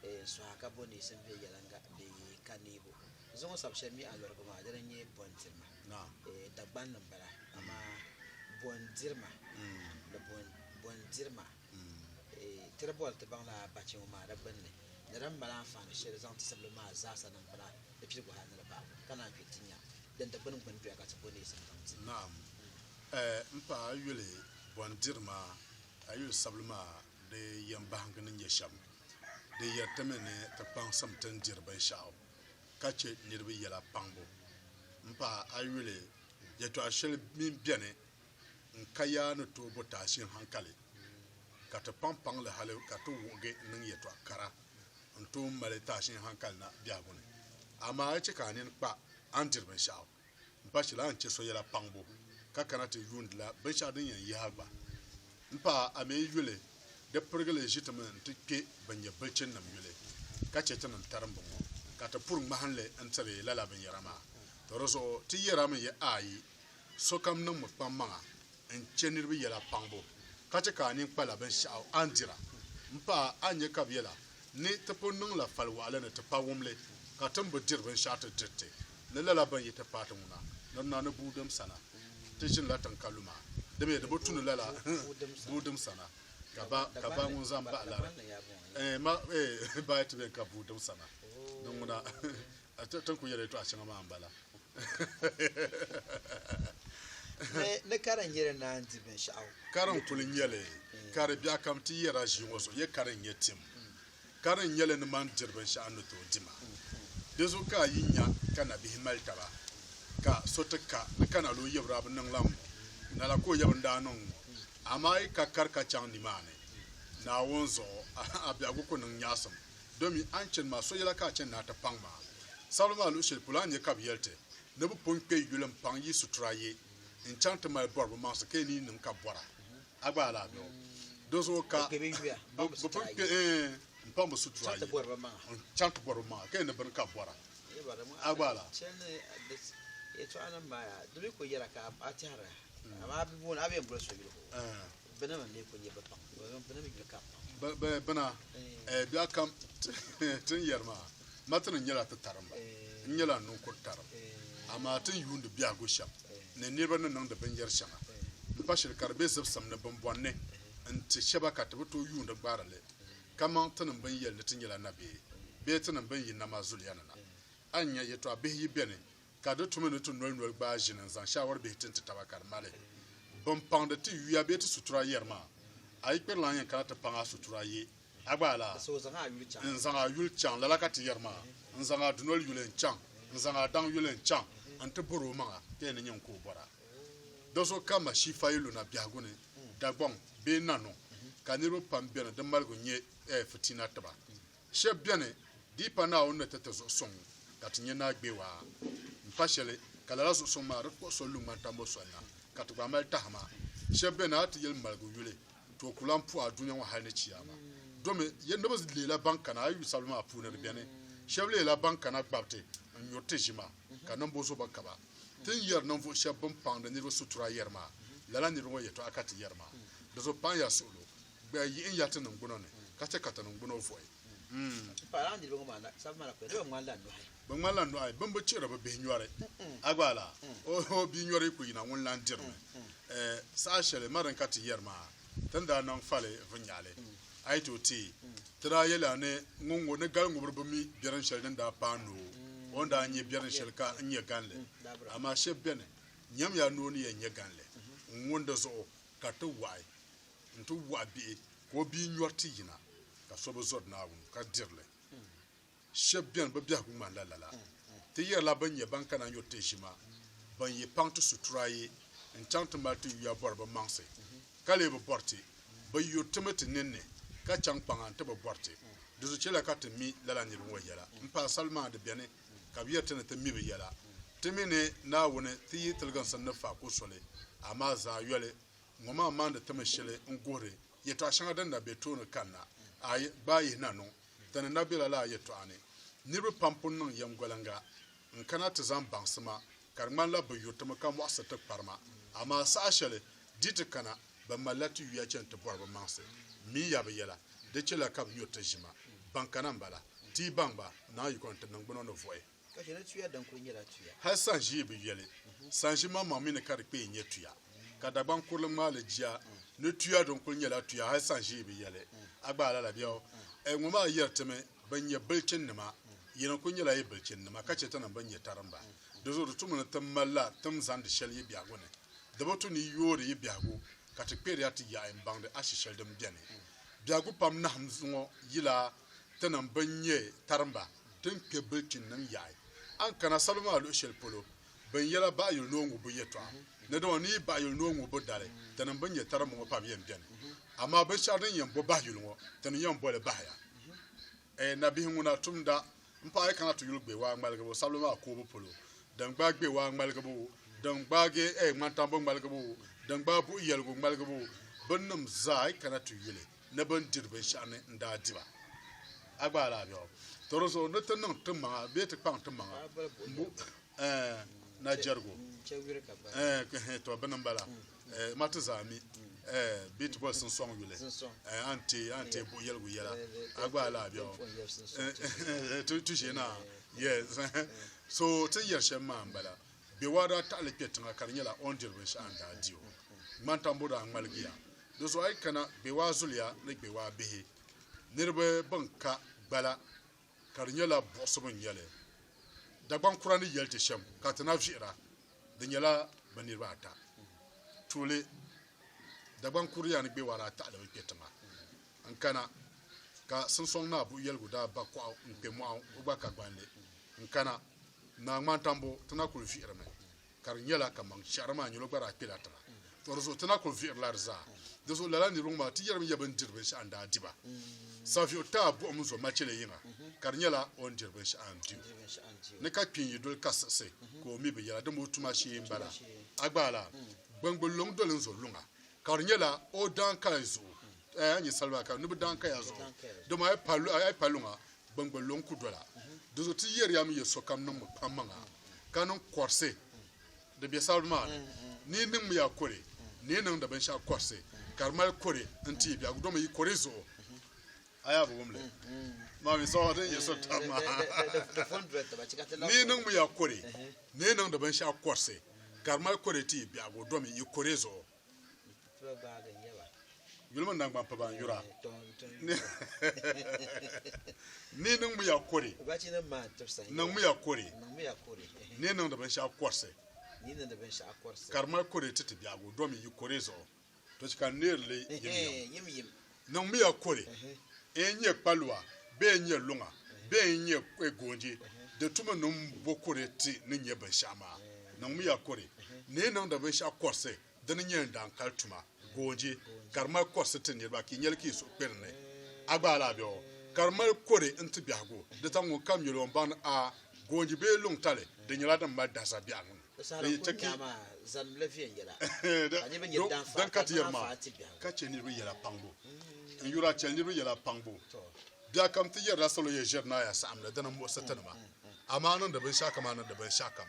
n suha ka bo neesim bee yɛliŋga bee ka neebu. Zuŋɔ sabi shɛli mi a lurigi maa dini n-nyɛ bɔndirima. Dagbanli m-bala amaa bɔndirima ni bɔndirima. Tiri boli ti baŋ lala bachi ŋɔ maa di gbinni ni di ni mali anfaani sheli zaŋ ti sibili maa zaasa niŋ bɛ la di piligu hali ni di bahi ka naan kpeli ti nya din di gbini gbini doya ka ti bo neesim baŋ ti. Naam. M paɣa a yuli bɔn diri maa a yuli sabili maa di yɛn bahingi ni nyɛ shem di yeri ti mi ni ti kpaŋsim ti ni diri binshɛɣu ka che niriba yela kpaŋbu. M paɣa a yuli yetɔɣa sheli mi beni n ka yaa ni tooi bo taashin hankali, ka ti paŋ paŋli hali ka ti wuɣigi niŋ yɛtɔɣ kara n-tooi mali taashin hankali na biɛhigu ni. Amaa a chɛ ka a nini kpa a ni diri binshɛɣu. M pa shili a ni chɛ so yɛla paŋbu ka kana ti yuundila binshɛɣu din yɛn yihi a gba. M pa a mi yuli di pirigili ʒi ti mi nti kpe ban nyɛ bilichininim yuli ka chɛ tinim tarimbu ŋɔ, ka ti puri ŋmahinli n-tiri lala binyɛra maa. Tɔ di zuɣu ti yɛrami yɛ aayi Sokam niŋmi kpaŋmaŋa n-che niriba yɛla paŋbu, ka chɛ ka a nini kpala binshɛɣu a ni dira. M paɣa, a ni nya ka bɛ yɛla ni ti pun niŋla fali waɣila ni ti pa wumli, ka ti ni bi diri binshɛɣu ti diri ti ni lala bɛn yi ti paai ti ŋuna ni di na ni buudim sana. Ti ʒinila tiŋ ka luma, dimiya di bi tu ni lala buudim sana, ka ba ka ba ŋun zaŋ bahi lari, eh, ma eh, bahi ti beni ka buudim sana ni ŋuna. Ti ni ku yɛli yɛtɔɣ shɛŋa maa m-bala. Ni ni ka din yɛli naan di binshɛɣu. Ka din kul nyɛ li, ka di biɛɣukam ti yɛra ʒii ŋɔ zuɣu, yɛ ka din nyɛ tim. Ka din nyɛ li ni mani diri binshɛɣu ni tooi di ma. Di zuɣu ka a yi nya ka nabihi mali taba, ka so ti ka, ni ka nal o yɛbiri a bi niŋ lan ŋɔ, lala ka o yɛbiri daa niŋ ŋɔ. Amaa a yi ka kari ka chaŋ nimaani Naawuni zuɣu, a biɛhigu ku niŋ nyaɣisim. Domi a ni chani maa, so yɛla ka a chani ni a ti paŋ ma? Sabili maa luɣ shɛli polo a ni nya ka bɛ yɛli ti, Ni bɛ pun kpe yuli m-paŋ yi situra ye, n-chaŋ ti mali bɔri bɛ maŋsi ka yi ni yi niŋ ka bɔra, a gba alaafee o. Dinzuɣu ka bɛ pun kpe m-paŋ bɛ situra ye, n-chaŋ ti bɔri bɛ maŋa ka yi ni bini ka bɔra, a gba alaafee o. Bana mi n-lee kul nyɛ bɛ paŋ, bana mi n-nyɛ ka paŋ. Bana, ɛɛ, biɛɣu kam ti ni yɛri maa, Martin nyɛla ti tarimba, n nyɛla n ninkur tarim, amaa ti ni yuundi biɛhigu shɛm ni niriba ni niŋdi binyɛr shɛŋa m-pa shili ka di be zibisim ni bimbɔn ni n-ti shɛba ka ti bi tooi yuundi gbaari li kaman tinim bɛn yɛli ni ti nyɛla nabee bee tinim bɛn yi nama zuliya ni na. A ni nya yɛtɔɣ bihi yi beni ka di tumi ni ti noli noli gbaai ʒini n-zaŋ shaawari bihi ti n-ti taba ka di mali bɛn paŋdi ti yuya bee ti sutura yɛri ma, A yi kpiri lan yɛn kana ti paŋ a sutura ye, a gbaai la? N zaŋ a yuli chaŋ, lala ka ti yɛri ma, N zaŋ a dunoli yuli n-chaŋ, n zaŋ a daŋ yuli n-chaŋ n-ti bɔr o maŋa, ka yɛn ni nya n-ku o bɔra. Do so ka Mashifa yi lu na biɛhigu ni Dagbaŋ bee Nanɔŋ, ka niriba pam beni di maligu nyɛ fitina ti ba, Shɛb beni di pa Naawuni ni ti ti zuɣusuŋ ka ti nya naa gbewaa. M-pa shɛli ka lala zuɣusuŋ maa di kpuɣi so lu ŋmani tambu soli la, ka ti gba mali tahima. Shɛb beni a ti yeli maligu yuli, Tooi ku lan puhi a dunia ŋɔ hal ni Chiyaama. Domi, ya niriba leela ban kana a yuyu sabili maa puuni di beni, shɛb leela ban kana gbabiti n-nyuri ti ʒima, ka niŋbu zo ba ka ba. Ti ni yeri ninvuɣ shɛb bɛn paŋdi niriba sutura yeri maa, lala niriba ŋɔ yɛtɔɣa ka ti yeri maa. Di zo paŋ ya suɣulo. Gba yihi n ya ti niŋgbuna ni, ka chɛ ka ti niŋgbuna vɔhi. M paɣ lana niriba ŋɔ maa na, sabi ma la kpe, di bi ŋmani la nɔhi. Bi ŋmani la nɔhi, bɛ ni bi chihiri bɛ bihi nyɔri. A gba laa? Ooh, bia nyɔri yi ku yina ŋun lan diri ni. Eh, saha shɛli ma din ka ti yɛri maa, ti ni daa niŋ fali vinnyaɣili, a yi ti o teei, ti daa yɛli a ni ŋun ŋɔ ni gal ŋubiri bi mi biɛrin shɛli din daa paai ni o ni daa nyɛ biɛrin shɛli ka n nyɛ gan li. Amaa shɛb beni, nyamiya ni o ni yɛn nyɛ gan li n ŋun di zuɣu ka ti waɣi. nti wɔɣi bihi ka o bia nyɔri ti yina ka so bi zɔri Naawuni ka diri li. Shɛb beni bɛ biɛhigu ŋmanila lala. Ti yɛrila bɛn nyɛ ban kana nyuri ti ʒima, bɛn yi paŋ ti sutura yi n-chaŋ ti mali ti yuya bɔri bɛ maŋsi, ka lee bi bɔri ti. Bɛ yuri ti mi ti ninni ka chaŋ kpaŋa nti bi bɔri ti. Di zuɣu chɛliya ka ti mi lala niriba ŋɔ yɛla. M-pahi sali maa di beni ka bɛ yɛri ti ni ti mi bɛ yɛla. Ti mi ni Naawuni ti yi tiliginsim ni fa ko soli, amaa zaayoli Ŋɔ maa maandi ti mi shili n-guhiri yɛtɔɣ shɛŋa din na be tooni kanna. Aai! Gbaai yihi na niŋ ti ni na bela lala yɛtɔɣa ni. Niriba pam pun niŋ yɛmgoliŋga n-kana ti zaŋ baŋsi ma, ka di ŋmanila bɛ yuri ti mi ka mɔɣisiri ti kpari ma. Amaa saha shɛli di ti kana, bɛ malila ti yuya chani ti bɔri bɛ maŋsi. M mi ya bɛ yɛla, di chɛlila ka bɛ yuri ti ʒi ma. Baŋ kana m-bala. Ti yi baŋ ba, naanyi yiko ni ti niŋgbuna ni vuɣi. Hal sanʒii bi yoli sanʒimaŋmaŋ mi ni ka di kpee nyɛ tuya, ka Dagbaŋ kurili ŋmaali jia ni tuya din kuli nyɛla tuya hal sanʒii bi yoli. A gbaai lala bɛ o? Ɛɛ, ŋɔ maa yɛri ti mi bɛn nyɛ bilichinnima, yi ni kuli nyɛla yi bilichinnima, ka chɛ ti niŋ bɛn nyɛ tarimba. Di zuɣu di tumi ni ti malila tim zaŋdi shɛli yi biɛhigu ni. Di bi tu ni yi yoori yi biɛhigu ka ti kperi ya ti yaɣi m-baŋdi ashi shɛli din beni. Biɛhigu pam nahim ŋɔ yila ti niŋ bɛn nyɛ tarimba. din kpe bilichininim yaɣi. A ni kana salo maa luɣ shɛli polo, bɛ ni yɛla baɣiyuli ni o ŋubbu yɛtɔɣa ni dama ni yi baɣiyuli ni o ŋubbu dali, tinim bɛn nyɛ taribu ŋɔ pam yɛn beni. Amaa binshɛɣu din yɛn bo baɣiyuli ŋɔ, ti ni yɛn boli bahiya. Ɛɛ nabihi ŋuna, tumda m-paɣ yi kana ti yuli gbewaa ŋmaligibu sabili maa koobu polo, din gbaai gbewaa ŋmaligibu, din gbaagi ŋmantambu ŋmaligibu, din gbaai buɣ yɛligu ŋmaligibu, binnim zaa yi kana ti yuli. ni bɛ ni diri binshɛɣu ni n-daa di ba. A gba alahi bɛ o? Tɔ di zuɣu ni ti niŋ ti maŋa bee ti kpaŋ ti maŋa m-bo ɛɛh na jɛrigu ɛɛh ɛɛh tɔ bini m-bala ɛɛh ma ti zaa mi ɛɛh bee ti boli sinsɔŋ yuli ɛɛh a ni ti a ni ti buɣi yɛligu yɛla a gba alahi bɛ o? Ɛɛh ɛɛh ti ʒiɛ naa yes ɛɛh so ti ni yɛri shɛm maa m-bala bɛ waa daa taɣi li kpe tiŋa ka di nyɛla o ni diri binshɛɣu n-daa di o ŋmani tambu daa ŋmaligiya Di zuɣu a yi kana Gbewaa zuliya ni Gbewaa bihi niriba bɛn ka gbala ka di nyɛla buɣisibu n-nyɛ li. Dagbaŋ kura ni yɛli ti shɛm ka ti na vihira di nyɛla bɛ niriba ata. Tuuli, Dagbaŋ kuriya ni Gbewaa daa taɣili mi kpe tiŋa n-kana ka Siŋsɔŋ Naa Buɣuyɛligu daa ba kɔɣu n-kpe mɔɣu o gba ka gbanli n-kana Naa Ŋmantambo ti na kuli vihiri mi. Ka di nyɛla kaman shɛhira maa nyɛlo gba daa kpela tiŋa, tɔ di zuɣu ti na kul vihirila di zaa. Di zuɣu lala niriba ŋɔ maa ti yɛrimi ya bɛ ni diri binshɛɣu n-daa di ba. Saviɣu taai buɣim zo machele yiŋa, ka di nyɛla o ni diri binshɛɣu n-di o. Ni ka kpi n-yi doli ka siɣisi, ka o mi bi yɛla, dama o tuma shee m-bala. A gba lala, gbaŋgbuli luŋ doli n-zo luŋa, ka di nyɛla o daaŋkaya zuɣu. Ɛɛ, a ni nyɛ saliba ka ni bi daaŋkaya zuɣu, dama a yi pa luŋa, Gbangba lo n-ku dɔla. Dinzuɣu ti yɛriya mi ya sokam niŋmi pam maŋa ka niŋ kɔrisi din be sabiri maa ni. Ni yi niŋmi ya kɔre, ni yi niŋdi binshɛɣu kɔrisi ka di mali kɔre n-ti yi biɛhigu domi yi kɔre zuɣu, a yaa bi wum li. Maa mi sokam din ya sokam maa. Ni yi niŋmi ya kɔre, ni yi niŋdi binshɛɣu kɔrisi ka di mali kɔre ti yi biɛhigu domi yi kɔre zuɣu. Yulimi naŋgban pa ban yura ni niŋmiya kɔre niŋmiya kɔre ni niŋdi binshɛɣu kɔrisi ka di mali kɔre ti ti biɛhigu domi yi kɔre zuɣu to chɛ ka n neeri li yimyim Niŋmiya kuli n-nyɛ kpalua bee n-nyɛ luŋa bee n-nyɛ goonji, di tumi niŋ bo kuli ti ni nya binshɛɣu maa? Niŋmiya kuli ni yi niŋdi binshɛɣu kɔrisi di ni nyɛ n daŋ kali tuma, goonji, ka di mali kɔrisi ti niriba ka yi nyɛli ka yi suhu kperi ni a gbaai li a biɛɣu, ka di mali kuli n-ti biɛhigu di ta ŋunkam nyɛli o ni baŋdi a goonji bee luŋ tali, di nyɛla din mali daza biɛɣu niŋ. Bɛ yi ti ki din ka ti yɛri maa, ka chɛ niriba yɛla kpaŋbu. N yuri a chɛli niriba yɛla kpaŋbu. Biɛkam ti yɛrila salo yɛn ʒiri naai a saɣim ni di ni muɣisi ti ni ma. Amaa a niŋdi binshɛɣukam a niŋdi binshɛɣukam.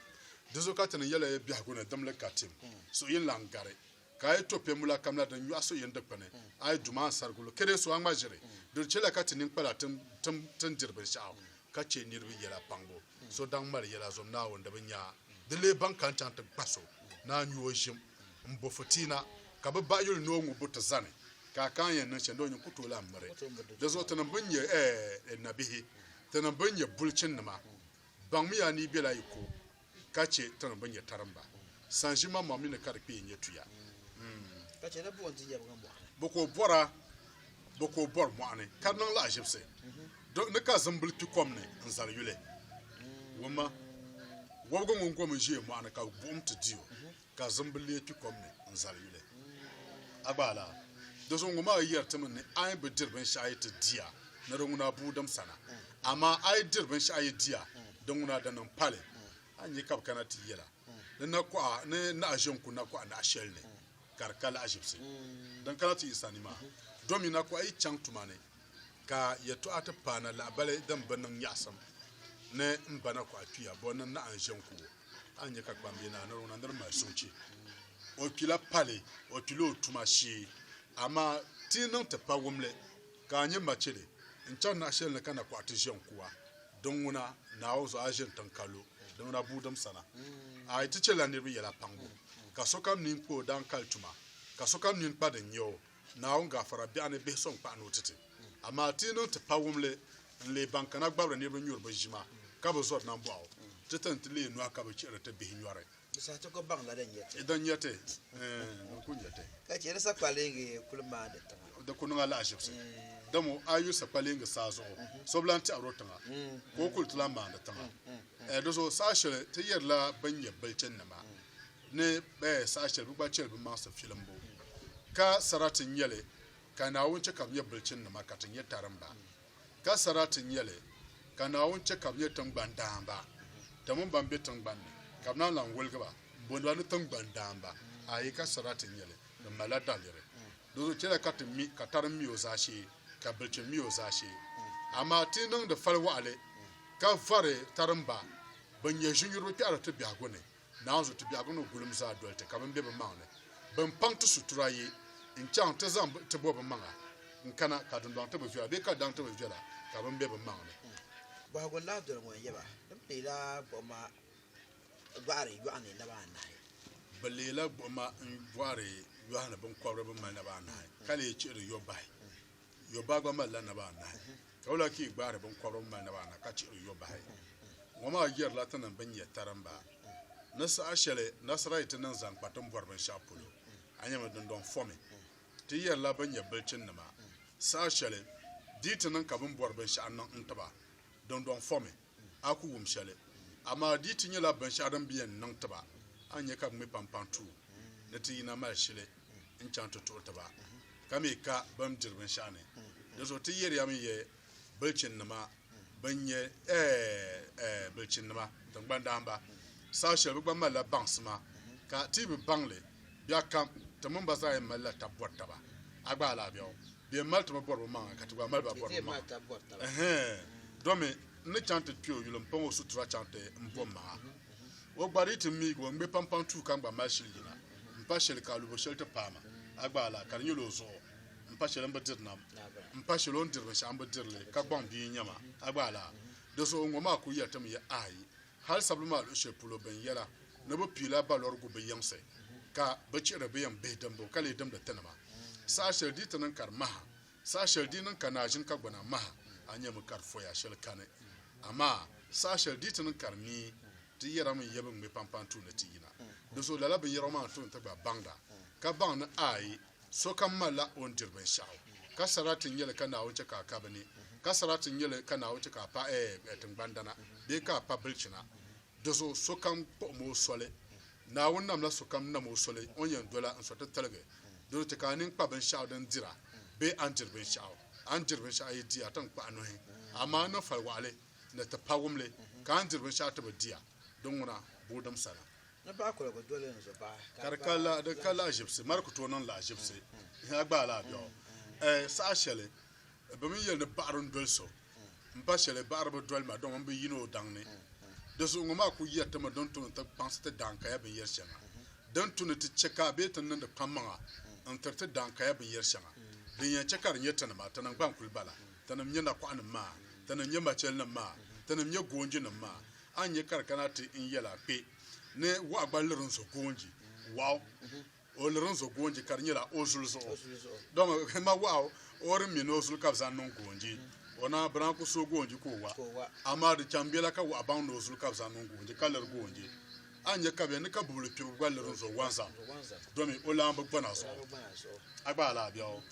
Dinzuɣu ka ti niŋ yɛla ya biɛhigu ni dimli ka tim suhu yini lan gari. Ka a yi to pemula kam la din nyɔɣi so yin dikpini, a yi duma n sarigi lu kede so a ŋma ʒiri. Dol chela ka ti ninkpala tim tin diri binshɛɣu ka che niriba yela paŋbu. So daŋ mali yela zom Naawuni di bi nya a. Di lee baŋ ka n chaŋ ti kpa so ni a nyu o ʒim m bo fitiina ka bi bahi yuli ni o ŋu bu ti zani ka a ka n yɛn niŋ shɛli doo nyin ku tooi lan miri. Di zuɣu tinim bɛn nyɛ nabihi, tinim bɛn nyɛ bulichin nima, baŋmiya ni yi bela yi ko Ka chɛ ti ni bi nyɛ karimba. Sanʒi maŋmaŋ mi ni ka di kpee nyɛ tuya. Ka chɛ ni buɣim ti yɛbigi mɔɣu ni. Bɛ ka o bɔra, bɛ ka o bɔri mɔɣu ni, ka di niŋ lahaʒibisi. Di ni ka zimbili kpi kom ni n-zali yuli. Wumma, wɔbigu ŋun gom n-ʒiɛ mɔɣu ni ka buɣim ti di o. Ka zimbu leei kpi kom ni n-zali yuli. A gba laa? Doso ŋun maa yɛri ti mi ni a yi bi diri binshɛɣu yi ti di a, ni di ŋuni a bua dim sana. Amaa a yi diri binshɛɣu yi di a, di ŋuni a di niŋ pali. A nya ka bɛ kana ti yɛl a, Ni nakɔha ni naɣ ʒe n-ku nakɔha naɣ shɛli ni, ka di ka lahiʒibisi. Din kana ti yi sani maa, domi nakɔha yi chaŋ tuma ni, ka yɛtɔɣa ti paana lahabali din bi niŋ nyaɣisim ni m ba nakɔha kpiya bɔ ni naɣ n-ʒe n-ku o. A ni nya ka kpambihi naa niriba na nir mali soochi o kpila pali o kpila o tuma shee, amaa ti yi niŋ ti pa wumli ka a nya machili n-chani naɣ shɛli ni ka na kɔɣi ti ʒiɛm kuwa, din ŋuna Naawuni zuɣu a ʒini tiŋ ka lo, din ŋuna buudim sana. A yi ti chɛla niriba yɛla paŋbu, ka sokam nini kpa o daaŋkali tuma, ka sokam nini kpa din nya o, Naawuni gaafara biɛɣu ni bihi so n-kpahi ni o ti ti. Amaa ti yi niŋ ti pawumli n-leei ban kana gbabiri niriba nyuri bɛ ʒima ka bi zɔri nambɔɣu, ti ti n-ti leei nɔhi ka bɛ chihiri ti bihi nyɔri. Di saha ti ko baŋ la din nyɛ ti. Din nyɛ ti, eeh, din kul nyɛ ti. Ka chɛ di sakpaliŋgi kul maandi tiŋa. Di kul niŋ alahichibisi. Dama a yu sakpaliŋgi saa zuɣu, so bi lan tɛhir o tiŋa, ka o kul ti lan maandi tiŋa. Di zuɣu saha shɛli ti yɛrila bɛn nyɛ bilichinnima. ni saha shɛli bɛ gba chɛli bɛ maŋsi filimbu, ka sarati n-nyɛ li ka Naawuni chɛ ka bɛ nyɛ bilichinnima ka ti nyɛ tarimba, ka sarati n-nyɛ li ka Naawuni chɛ ka bɛ nyɛ tiŋgbani daamba, ti mini bɛn be tiŋgbani ni, ka bɛ naan lan woligi ba m-booni ba ni tiŋgbani daamba. Aai! Ka sarati n-nyɛ li, di malila daliri. Dinzuɣu chɛliya ka ti mi, ka tarim mi o zaashee, ka bilichini mi o zaashee. Amaa ti yi niŋdi fali waɣili ka vɔri tarimba bɛn nyɛ ʒinyuriba kpɛhiri ti biɛhigu ni, Naanzu ti biɛhigu ni gulim zaa doli ti ka bɛ ni be bimaŋ ni bɛ ni paŋ ti sutura ye n-chaŋ ti zaŋ ti bo bimaŋa n-kana ka dundɔŋ ti bi viɛla bee ka daŋ ti bi viɛla ka bɛ ni be bimaŋ ni. Bɔhigu n-lahi doli ŋɔ n-yɛ ba, Di mi leela gbuɣima n-gbɔhiri yɔɣu ni naba anahi? Bɛ leela gbuɣima n-gbɔhiri yɔɣu ni biŋkɔbiri bɛn mali naba anahi, ka leei chihiri yɔbahi. Yɔbaa gba malila naba anahi, ka o lahi kii gbaari binkɔbiri m-mali naba anahi ka chihiri yɔbahi. Ŋɔ maa yirila ti niŋ binyɛtarimba. Ni saha shɛli Nasarayitinim zaŋ kpa ti ni bɔri binshɛɣu polo, a nya mi dindɔŋ fɔmi. Ti yɛrila bɛ nyɛ bilichinnima. Saha shɛli di yi ti niŋ ka bɛ ni bɔri binshɛɣu niŋ n-ti ba, dindɔŋ fɔmi. a ku wum shɛli. Amaa di yi ti nyɛla binshɛɣu din bi yɛn niŋ ti ba, a ni nya ka bɛ ŋme pampaŋ tuui ni ti yina mali shili n-chaŋ ti tuɣi ti ba, ka mi ka bɛ ni diri binshɛɣu ni. Dinzuɣu ti yɛriyami yɛi bilichinnima bɛn nyɛ, ɛɛ, bilichinnima, tiŋgbandahimba, saha shɛli bɛ gba malila baŋsima, ka ti yi bi baŋ li biɛɣukam, ti mini ba zaa yɛn malila tab bɔri taba. A gba alaabɛgu? Bɛ yɛn mali ti mi bɔribu maŋa ka ti gba mali ba bɔribu maŋa. Ɛhɛn, domi n ni chaŋ ti kpe o yuli m-paŋ o sutura chaŋ ti m bo maŋa. O gba di ti miigi o ŋme pampaŋ tuu ka n gba mali shili yina m-pa shɛli ka alubo shɛli ti paai ma. A gbaai laa ka di nyɛla o zuɣu m-pa shɛli m bi diri nam m-pa shɛli o ni diri binshɛɣu m bi diri li ka gbaŋ bia n-nyɛ ma. A gbaai laa? Di zuɣu ŋɔ maa kul yɛli ti mi ya aai Hal sabili maa luɣ shɛli polo bɛn yɛla ni bɛ piila balɔrigu bi yiŋsi, ka bɛ chihiri bɛ yɛn bihi dimbu ka lee dimdi ti nima. Saha shɛli di yi ti niŋ ka di maha, saha shɛli di yi niŋ ka naazini kagbana maha, a nyɛmi ka di fɔya shɛli kani. Amaa saha shɛli di yi ti niŋ ka di niyi, ti yɛrimi yɛbi ŋme pampani tuuni ti yina. Dinzuɣu lala binyɛrɔŋɔ maa n-tooi ni ti gba baŋda, ka baŋ ni a yi Sokam malila o ni diri binshɛɣu, ka sarati n-nyɛ li ka Naawuni chɛ ka a ka bɛ ni, ka sarati n-nyɛ li ka Naawuni chɛ ka a pa ɛɛh tiŋgbandana bee ka a pa bilichina. Dizuɣu sokam kpuɣim o soli. Naawuni namla sokam nam o soli o ni yɛn dola n sɔtitiligi. Doro ti ka a nini kpa binshɛɣu din dira bee a ni diri binshɛɣu. A ni diri binshɛɣu a yi di a ti ni kpuɣ a nuhi, amaa n niŋ fali waɣili ni ti pawumli ka a ni diri binshɛɣu ti bi di a, di ŋuna boodom sani. Ni paɣi kuligu doli n zo bahi. Ka di ka la, di ka lahaʒibisi, Mari ku tooi niŋ lahaʒibisi, Ihi a gbaai la a biɛɣu. Ɛɛ, saha shɛli bɛ mi yɛli ni baɣiri n-doli so, m-pa shɛli baɣiri bi doli ma, dama m bi yini o daŋ ni. Di zuɣu ŋɔ maa ku yɛri ti mi din tu ni ti kpaŋsi ti daaŋkaya binyɛri shɛŋa, din tu ni ti chɛ ka bee ti niŋdi kpammaŋa n-tiri ti daaŋkaya binyɛri shɛŋa. Din yɛn chɛ ka di nyɛ tinima, tinim gba n-kul bala, tinim nyɛ nakɔɣinim maa, tinim nyɛ machɛlinim maa, tinim nyɛ goonjinim maa, A ni nya ka di kana ti n yɛl a kpe ni waɣa gba liri n zo goonji waɣu. O liri n zo goonji ka di nyɛla o zuli zuɣu. Dama n ma waɣa o di mini o zuli ka bɛ zaŋ niŋ goonji. O naa bi daa ku so goonji ka o wa, amaa di chaŋ bela ka waɣa baŋ ni o zuli ka bɛ zaŋ niŋ goonji ka liri goonji. A ni nya ka bɛ ni ka bubili kpirigu gba liri n zo wanzam domi o lan bi gbana zuɣu. A gba a lahi bɛ o.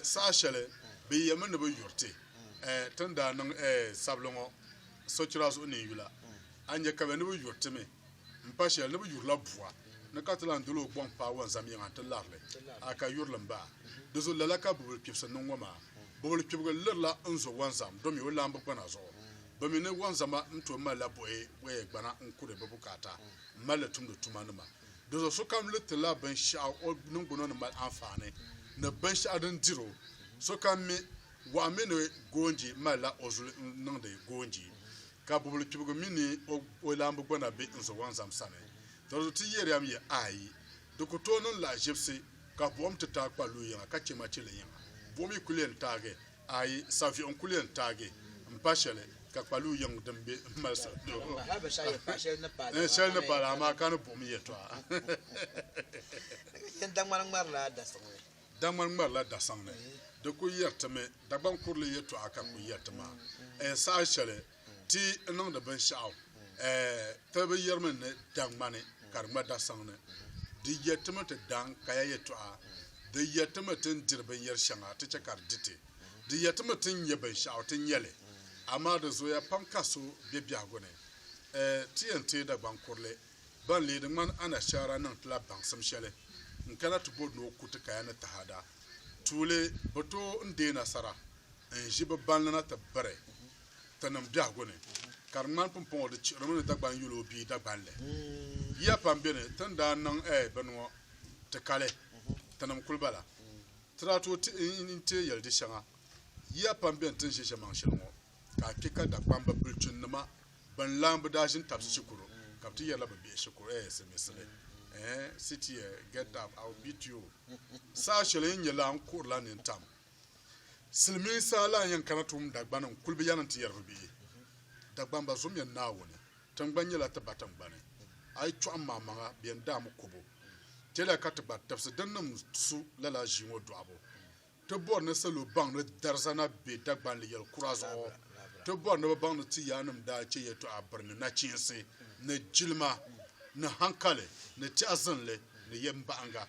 Saha shɛli bɛ yɛlimi ni bɛ yuri ti, ti ni daa niŋ sabili ŋɔ. sochira zuɣu neen yula, a ni nya ka bɛ ni bi yuri ti mi m-pa shɛli ni bɛ yurila bua ni ka ti lan dol o gɔŋ paai wunzam yiŋa nti lari li, a ka yuri li m-bahi. Di zuɣu lala ka bubili kpibisi niŋ ŋɔ maa. Bubili kpibigi lirila n zo wunzam domi o laamba gbana zuɣu. Bɛ mi ni wunzama ni tooi malila buɣi buɣi gbana n-kuri bɛ bukaata m-mali li tumdi tumanima. Di zuɣu sokam li ti la binshɛɣu o niŋgbuna ni mali anfaani ni binshɛɣu din diri o. Sokam mi. Gɔɣu mini goonji malila o zuli n-niŋdi goonji, ka bubuli kpibigu mi ni o laambu gbana be n zowaŋzam sani. Dɔrizu ti yɛri a mi yɛ, Aai! Di ku tooi niŋ lahiʒibisi ka buɣim ti taai kpa lu yiŋa ka chɛ machili yiŋa. Buɣim yi kul yɛn taagi, aai, saviɣu n-kul yɛn taagi m-pa shɛli ka kpa lu yiŋ din be m-mali soli shɛli ni paali amaa ka ni buɣim yɛtɔɣa. Daŋmani ŋmarila dasaŋ ni di ku yɛri ti mi Dagbaŋ kurili yɛtɔɣa ka ku yɛri ti maa ɛɛ saha shɛli ti ni niŋdi binshɛɣu ɛɛ ti bi yɛrimi ni Daŋmani ka di ŋma dasaŋ ni di yɛri ti mi ti daŋ kaya yɛtɔɣa di yɛri ti mi ti ni diri binyɛri shɛŋa ti chɛ ka di di ti di yɛri ti mi ti ni nya binshɛɣu ti nya li amaa di zooya pam ka so be biɛhigu ni ɛɛ ti yɛn teei Dagbaŋ kurili Ban leei di ŋmani anashaara niŋ ti la baŋsim shɛli n-kana ti bɔri ni o ku ti kaya ni taada. Tuuli bɛ tooi n deei nasara n-ʒi bɛ banlina ti biri Tinim biɛhigu ni, ka di ŋmani pumpɔŋɔ di chihirimi ni Dagban yolo bia Dagbanli. Yiya pam be ni ti ni daa niŋ bini ŋɔ ti kali, Tinim kuli bala. Ti daa tooi teei yɛli di shɛŋa. Yiya pam be ni ti ni ʒe ʒemaŋ shɛli ŋɔ. ka a kpe ka Dakpamba bilichinnima ban lahi bi daa ʒini tabisi shikuru ka bɛ ti yɛrila bɛ bihi shikuru eh Siliminsili eh sit here get up I will beat you saha shɛli yi ni nya lala n kuhirila nini tam Silimiinsi a lahi yɛn kana tuum Dagbani n kuli bi yɛliŋ ti yɛri bɛ bihi Dagbamba zumiya Naawuni tingbani nyɛla ti ba tingbani a yi chɔɣim ma amaŋa bɛ yɛn daai mi kobo tɛliya ka ti gba tibisi din niŋ su lala ʒii ŋɔ dɔɣibu Ti bɔri ni salo baŋ ni Darza na be Dagbanli yɛl kura zuɣu. Ti bɔri ni bɛ baŋ ni ti yaannim daa chɛ yɛtɔɣa biri ni nachiinsi ni jilima ni hankali ni tɛha zinli ni yɛmbaɣiŋga.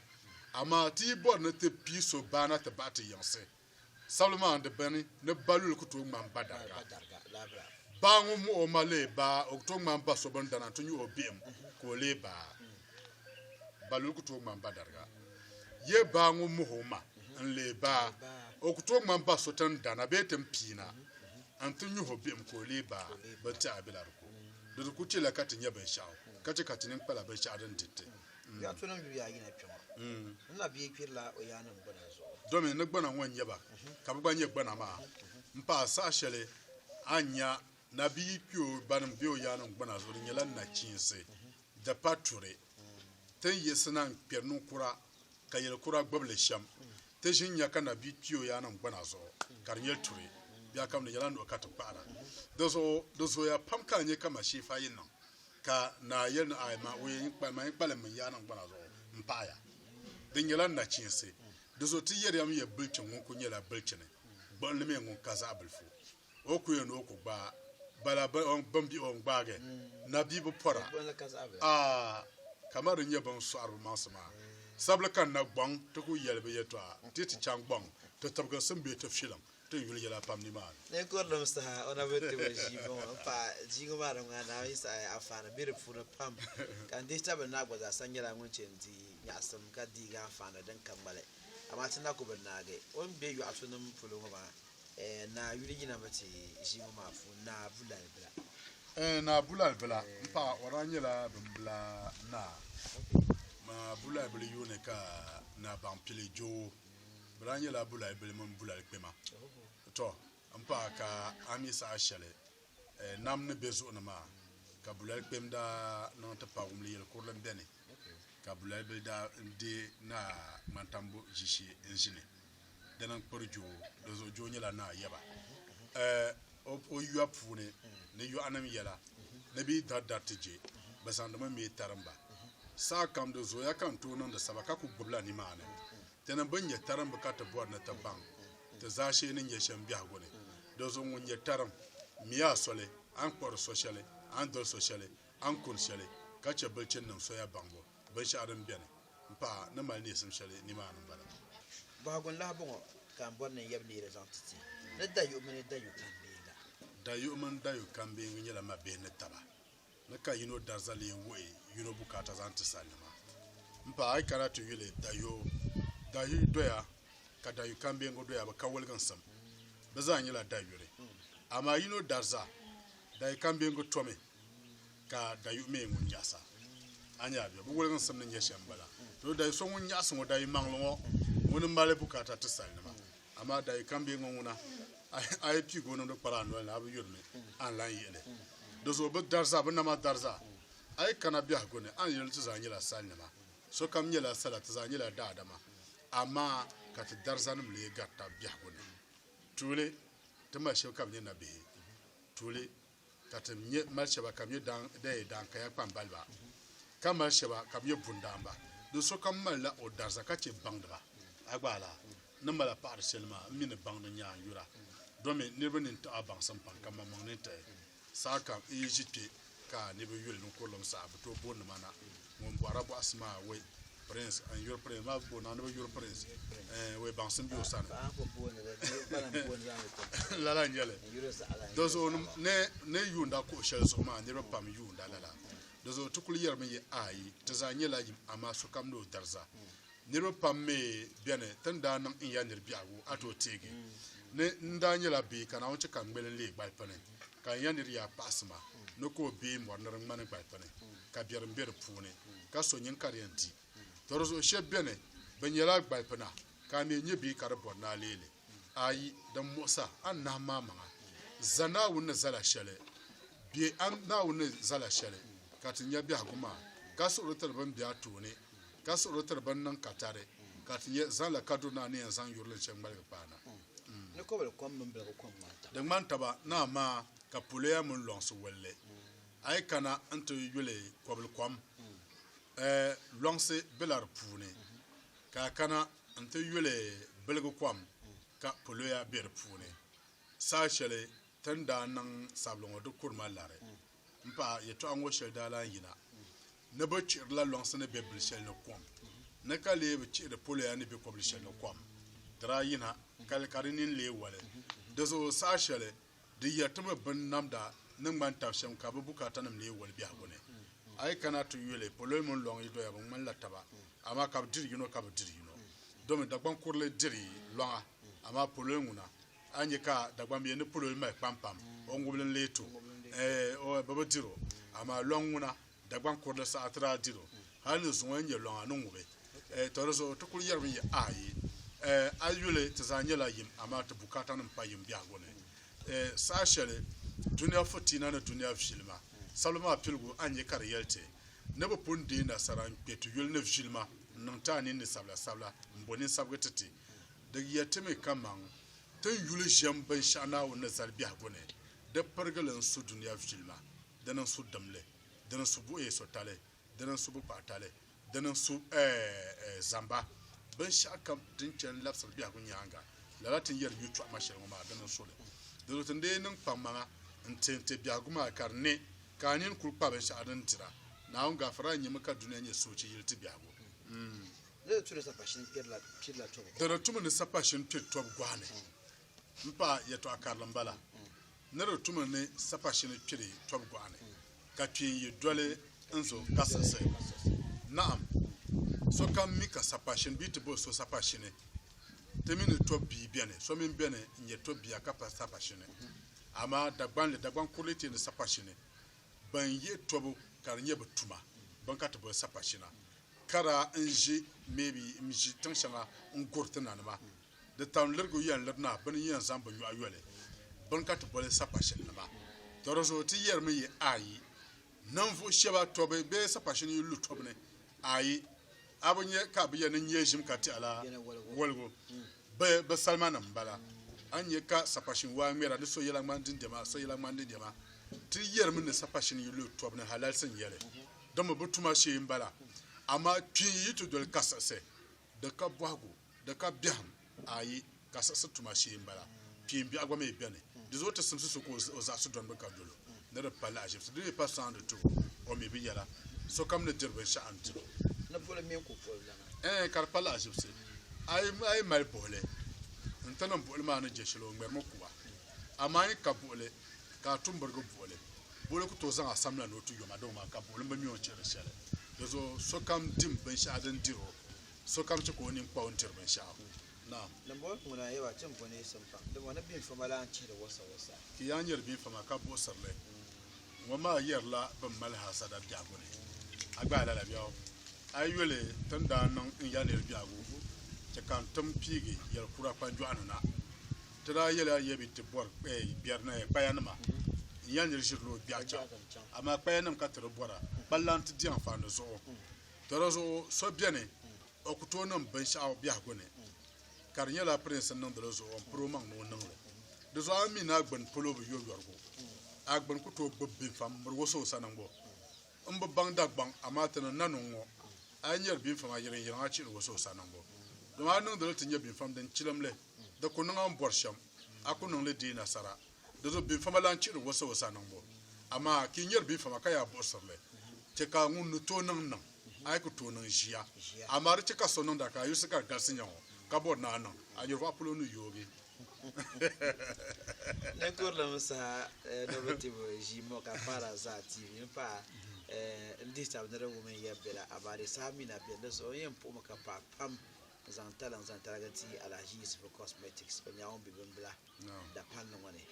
Amaa ti yi bɔri ni ti pii so baa na ti baɣi ti yiŋsi. Sabili maa n-di bɛni ni ba luli ku tooi ŋmani ba dariga. Baa ŋun muɣi o ma leei baa, o ku tooi ŋmani ba so bini dana nti nyuɣi o bihim ka o leei baa. Baluli ku tooi ŋmani ba dariga. Yɛ baa ŋun moh o ma n-lee baa, o ku tooi ŋmani ba so tin dana bee tin piina nti nyuh o bihim ka o lee baa. Bintɛha bela di ko. Di di ku chɛla ka ti nya binshɛɣu, ka chɛ ka ti nini kpala binshɛɣu din diri ti. Yaa to niŋ yuya ayi na kpe ŋɔ, n na bia kpirila o yaannim gbana zuɣu. Domi ni gbana ŋɔ n-nyɛ ba, ka bɛ gba nyɛ gbana maa, m-paai saha shɛli a ni nya Nabiyi kpeo banim be o yaannim gbana zuɣu di nyɛla nachiinsi, di pa turi. Ti ni yiɣisina n-kperi niŋ kura ka yeli kura gbibi li shem. Ti ʒin nya ka Nabiyi kpi o yaannim gbana zuɣu ka di nyɛ turi. Biɛkam di nyɛla nuhi ka ti kpahira. Dizuɣu di zooya pam ka a nya ka Masheefa yi niŋ ka naa yeli ni, Aai ma, o yen kpa ma, yen kpa limmi n yaannim gbana zuɣu m paɣi ya. Di nyɛla nachiinsi. Dizuɣu ti yeriya mi ya bilichini ŋun kuli nyɛla bilichini, gbuɣinli mi ŋun ka zaɣi bilifu. O ku ya ni o ku gbaai bala bɛn bihi o n-gbaagi na bia bi pɔra a kamar din nyɛ bɛ ni sɔɣiri bɛ maŋsi maa. Sabili ka n na gɔŋ ti ku yɛli bɛ yɛtɔɣa ti ti chaŋ gɔŋ ti tibigi sim bee ti filiŋ ti ni yuli yɛla pam nimaani. Ninkurilim saha o na bi ti bɛ ʒii bɔŋɔ m-paai ʒiiŋɔ maa di ŋmanila Naawuni saɣi anfaani be di puuni pam ka n dihi tabili naa gba zaasa nyɛla ŋun chɛ n-di nyaɣisim ka deegi anfaani din ka ŋmali. Amaa ti na ku bi naagi o ni be yɔɣisunima polo ŋɔ maa. Ɛɛ Naa yuli yina mi ti ʒibu maa puuni, Naa Bulalibila. Ɛɛ Naa Bulalibila, m paɣa, o daa nyɛla bimbila naa. Naa Bulalibili yuuni ka Naa Baŋpili je o. Bɛ daa nyɛla Bulalibili mini Bulalikpema. Tɔ! M paɣa, ka a mi saha shɛli nam ni be zuɣu ni maa, ka Bulalikpem daa niŋ ti paai wumli yɛli kurili m-beni, ka Bulalibili daa deei Naa Ŋmantambo ʒishee n-ʒini. di ni kpiri joo, dinzuɣu joo nyɛla naa yaba o yuya puuni ni yɔɣunim yɛla ni bɛ yi dari dari ti je, bɛ zaŋdimi mee tarimba. Saakam di zooya ka n tooi niŋdi saba ka ku gbibila nimaani. Ti ni bi nya tarimbu ka ti bɔri ni ti baŋ ti zaashee ni nya shɛm biɛhigu ni. Dinzuɣu ŋun nya tarim, mi a soli, a ni kpuɣiri so shɛli, a ni doli so shɛli, a ni kuni shɛli, ka chɛ bilichini nim soya baŋbu. Binshɛɣu din beni m-pahi ni mali neesim shɛli nimaani m-bala. Bɔhigu n-lahi bɔŋɔ ka m bɔri ni n yab neeri zaŋ ti ti ni dayuɣ mini dayuɣ kambeeŋa. Dayuɣ mini dayuɣ kambeeŋa nyɛla mabihi ni taba ni ka yino dariza lee wuhi yino bukaata zaŋ ti salinima. M paɣa a yi kana ti yuli dayuɣ dayuɣ doya ka dayuɣ kambeeŋa doya bɛ ka woliginsim. Bɛ zaa nyɛla dayuri amaa yino dariza dayuɣ kambeeŋa tomi. ka dayu mi ŋun nyaɣisa a nya bɛ bi woliginsim ni nyɛ shɛm bala. To dayu so ŋun nyaɣisi ŋɔ dayu maŋli ŋɔ ŋuni mali bukaata ti salinima amaa dayu kambiɛ ŋɔ ŋuna a yi piigi o niŋdi kpara a noli ni a bi yurimi a ni lan yihili di zuɣu bi dariza bi nama dariza a yi kana biɛhigu ni a ni yuli ti zaa nyɛla salinima sokam nyɛla sala ti zaa nyɛla daadama amaa ka ti darizanim lee gari tab biɛhigu ni tuuli ti mali shɛb ka bi nyɛ nabihi tuuli ka ti mi mali shɛba ka mi dan yi dan kaya kpambaliba, ka mali shɛba ka mi bundaanba. Di sokam malila o dariza ka chɛ baŋdiba. A gba a lahi ni mali a paɣiri shɛli maa? M mi ni baŋdi n-nyɛ a n-yura, domin niriba nini tiɣi a baŋsim pam, ka mmaŋmaŋ nini tiɣi. Saha kam n yi ʒi kpe ka a ni bi yuli ninkurulim saha, bi tooi booni ma na. ŋun bɔhira bɔhisi maa we prince n yuri prince maa bo na ni bi yuri prince we baŋsim be o sani lala n yɛli do zuɣu ne yuunda kuɣu shɛli zuɣu maa niriba pam yuunda lala do zuɣu ti kuli yɛrimi yɛ ayi ti zaa nyɛla yim amaa sokam ni o dariza Niriba pam mi beni ti ni daa niŋ n ya nir biɛhigu a tooi teegi ni n daa nyɛla bia ka Naawuni chɛ ka n ŋmeli n-leei gbalipini, ka n ya nir yaa kpaɣisima ni ka o bee mɔri nir ŋmani gbalipini, ka biɛrim be di puuni, ka so nyin ka di yɛn di. Tɔ di zuɣu shɛb beni bɛ nyɛla gbalipina, ka a mi nyɛ bia ka di bɔri ni a leei li. ayi din muɣisi a anahi maa maŋa. Za Naawuni ni zala shɛli, bɛ a Naawuni ni zala shɛli ka ti nya biɛhigu maa, ka suɣuri tiri bɛn be a tooni, ka suɣuri tiri bɛn niŋ katari, ka ti nya zaŋla kaduri ni a ni yɛn zaŋ yuri li chɛ ŋmaligi paana. Ni kɔbili kom mini biligu kom ŋmani taba. Di ŋmani taba ni amaa ka poloya mini lɔŋsi wali li. A yi kana n-ti yuli kɔbili kom, ɛɛ, lɔŋsi bela di puuni, ka a kana N-ti yuli biligi kom ka poloya be di puuni. Saha shɛli ti ni daa niŋ sabili ŋɔ di kuri ma lari. M-paɣa, yɛtɔɣa ŋɔ shɛli daa lan yina ni bɛ chihirila lɔŋsi ni be bili shɛli ni kom ni ka lee bi chihiri poloya ni be kɔbili shɛli ni kom. Di daa yina kali ka di nini lee wali. Dizuɣu saha shɛli Di yɛritibu bini namda ni ŋmani tab shɛm ka bɛ bukaatanim leei woli biɛhigu ni. A yi kana ti yuli, poloi mini lɔŋ yi doya bɛ ŋmanila taba, amaa ka bɛ diri yino ka bi diri yino. Domi Dagbaŋ kurili diri lɔŋa, amaa poloi ŋuna, a nya ka Dagbambia ni poloi mali kpampam, o ŋubili n-leei ti o, ɛɛ, o, bɛ bi dir o, amaa lɔŋ ŋuna. Dagbaŋ kurili saha ti daa diri o, hali ni zuŋɔ n-nyɛ lɔŋa ni ŋubi. Tɔ di zuɣu ti kul yɛrimi ya, Aai! A yuli ti zaa nyɛla yim, amaa ti bukaatanim pa yim biɛhigu ni. Saha shɛli dunia fitiina ni dunia vilima sabili maa piligu a ni nya ka di yɛli ti ni bɛ pun deei nasara n-kpe ti yuli ni vilima n-niŋ ti a ninni sabilasabila m-bo ninsabigi ti ti. Di yɛtimi kaman ti ni yuli ʒiɛm binshɛɣu Naawuni ni zali biɛhigu ni, di pirigili n-su dunia vilima. di niŋ su dim li, di niŋ su buɣi so tali, di niŋ su bi kpahi tali, di niŋ su zamba, binshɛɣu kam din chɛ n-labisiri biɛhigu nyaaŋa, lala ti ni yɛri yutɔɣu ma shɛli ŋɔ maa, di niŋ su li. Dinzuɣu ti ni dii niŋ kpaŋmaŋa n-ti n-ti biɛhigu maa ka di ne ka a nini kul kpa binshɛɣu din dira. Naawuni gaafara n-nyɛmi ka dunia nyɛ soochi yili ti biɛhigu. Di ni tu ni sapashin piri la tɔbu gɔhi ni. Di ni tu mi ni sapashin piri tɔbu gɔhi ni m-paai yɛtɔɣ karili m-bala. Ni di tumi ni sapa shini kpiri tɔb gɔɣa ni, ka kpeen yi doli n zo ka siɣisi? Naɣim! Sokam mi ka sapa shini bee ti bo so sapa shini. Ti mi ni tɔb bia beni, so mini beni n-nyɛ tɔb bia ka pa sapa shini. Amaa Dagbanli, Dagbaŋ kurili ti ni sapa shini. Bɛn yihi tɔbu ka di nyɛ bɛ tuma, bɛn ka ti boli sapa shina, ka daa n-ʒi, maybe, m-ʒi tiŋ shɛŋa n-guri ti nanima. Di tam lirigu yɛn liri na bɛ ni yɛn zaŋ bɛ nyɔɣu yoli bini ka ti boli sapashinnima. Tɔ di zuɣu ti yɛrimi yi Ayi, ninvuɣ shɛba tɔbu bee sapashini yi lu tɔbu ni, Ayi, a bi nya ka bɛ ya ni nyɛ ʒim ka tɛhi la woligu? Bɛ bi salimanim m-bala. A ni nya ka sapashin waa ŋmɛra ni so yɛla ŋmani dindɛma, so yɛla ŋmani dindɛma. Ti yɛrimi ni sapashini yi lu tɔbu ni halalisi n-nyɛ li. Dama bɛ tuma shee m-bala. Amaa kpiinyi yi ti doli kasiɣisi. di ka bɔhigu, di ka biɛhim, ayi, ka siɣisi tuma shee m-bala. Kpiim biɛɣu gba mi beni. Di zuɣu ti simsi so ka o zaɣisi dɔni bi ka dolo ni di pa lahiʒibisi. Di mi pa sɔŋdi ti o, o mi bi yɛla, Sokam ni diri binshɛɣu n-diri o. Ni boli mini ku boli lana. Ɛɛn, ka di pa lahiʒibisi. A yi mali buɣili, n-ti niŋ buɣili maa ni je shɛli o ŋmɛrimi kuba. Amaa a yi ka buɣili, ka a tumbirigu buɣili, buɣili ku tooi zaŋ a samla ni o ti yom a doo maa ka buɣilim bi mi o ni chɛ di shɛli. Dizuɣu sokam dim binshɛɣu din dir o, sokam chɛ ka o nini kpa o ni dir binshɛɣu. Naam! Dimbɔŋɔ ŋuna n-yɛli ba, Ti ni bo ni yi sim pam, dimbɔŋɔ ni biinfama lan chihi di wasawasa. Ti yaa nyari biinfama ka buɣisir li. Ŋɔ maa yɛrila bɛn mali haasada biɛhigu ni. A gbaai lala biɛhigu? A yi yoli ti ni daa niŋ n ya nir biɛhigu, chɛ ka n tim piigi yɛl kura kpanjɔɣu ni na. Ti daa yɛla Yabi ti bɔri bɛrinaya kpayanima n-yɛli nir ʒirila o biɛɣu chaŋ, amaa kpayanim ka ti di bɔra, kpalaŋ ti di anfaani zuɣu. Dara zuɣu so beni, o ku tooi niŋ binshɛɣu biɛhigu ni, ka di nyɛla pirinsi n-niŋdi li zuɣu n-piri o maŋ ni o niŋ li. Di zuɣu a mi ni a gbini polo bi yo yɔrigu, a gbini ku tooi gbibi binfa m-miri o suhu sani ŋ-ŋɔ. M bi baŋ Dagbaŋ, amaa ti ni nani o ŋ-ŋɔ, a yi nyari binfa maa yiriŋyiriŋ a chihi ni o suhu sani ŋ-ŋɔ. Dama a niŋdi li ti nyɛ binfam din chilim li. Di ku niŋ a ni bɔri shɛm, a ku niŋ li di yi nasara. Di zuɣu biŋfama lan chihiri wasiwasi a niŋbu. Amaa ka yi nyari biŋfama ka yaa buɣisiri li, chɛ ka ŋun ni tooi niŋ niŋ, a yi ku tooi niŋ ʒiya. Amaa di chɛ ka so niŋda ka a yulisi ka di galisi nya ŋɔ, ka bɔri ni a niŋ, a nyuriba polo ni yoogi. N kurlim saha ni bi ti bo ʒii ŋɔ ka n paara zaa tiivi n paai n dihi tab ni di wum n yɛm bela. Amaa di saha mi na beni. Di zuɣu n yɛn puhimi ka paai pam. zaŋ taliŋ zaŋ tarigi ti Alhaji Yusufu Cosmetics, o nyɛla ŋun be bimbila dapalli ŋɔ ni.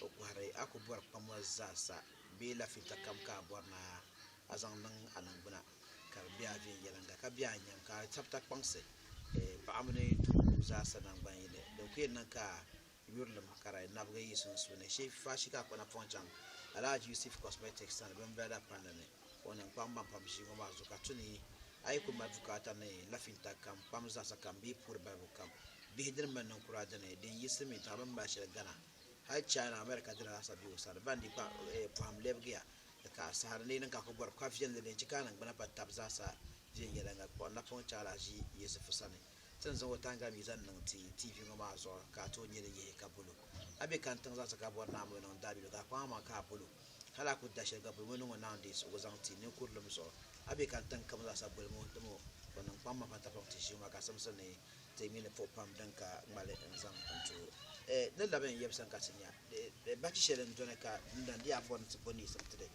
O kɔhiri a ku bɔri kpam ŋɔ zaa sa bee lafibita kam ka a bɔri ni a zaŋ niŋ a niŋgbuna ka di be a viɛnyɛliŋga ka be a nyam ka a sabita kpaŋsi paɣa mini doo zaa sa naŋgban yini din ku yɛn niŋ ka yurilim ka di nabigi yi sunsuuni shee Fashi ka kpana pɔŋ chaŋ Alhaji Yusuf Cosmetics sani bimbirada palli ni o niŋ kpaŋmaŋ pam ʒii ŋɔ maa zuɣu ka tu ni a yi kuli mali bukaata ni lafinta kam kpam zaɣisa kam bee puuri balibu kam bihi dini mini ninkura dini din yi silimiintaɣa bini mali shɛli gana hali China America dini lahi sa be o sani bandi kpa pɔhim lɛbigiya ni ka a sahari ni yi niŋ ka a kuli bɔri ka viɛlli din chi ka a niŋgbuna pa tabi zaɣisa viɛnyɛliŋga kpuɣi napɔŋ chaŋ Alhaji Yusuf sani. Ti ni zaŋ o taŋga mi zaŋ niŋ ti TV ŋɔ maa zuɣu ka a tooi nyɛ din yihi ka bolo. A be kani tiŋ zaŋsi ka bɔri ni a mo niŋ daabiligu ka a kpaŋ a maŋa ka a bolo. Hali a ku da sheli gba boli mo niŋo naawuni deei suhigu zaŋ ti ninkurulim zuɣu. A be kani tiŋ kam zaasa boli mo dimo o niŋ kpaŋ ma pata pam ti ʒiŋ ma ka simsi ni ti mi ni puɣi pam din ka ŋmali n zaŋ n tuhi o. N ni labi n yɛbu sani ka ti nya bachi sheli n doni ka n lan di a bɔri ni ti bo neesim ti di.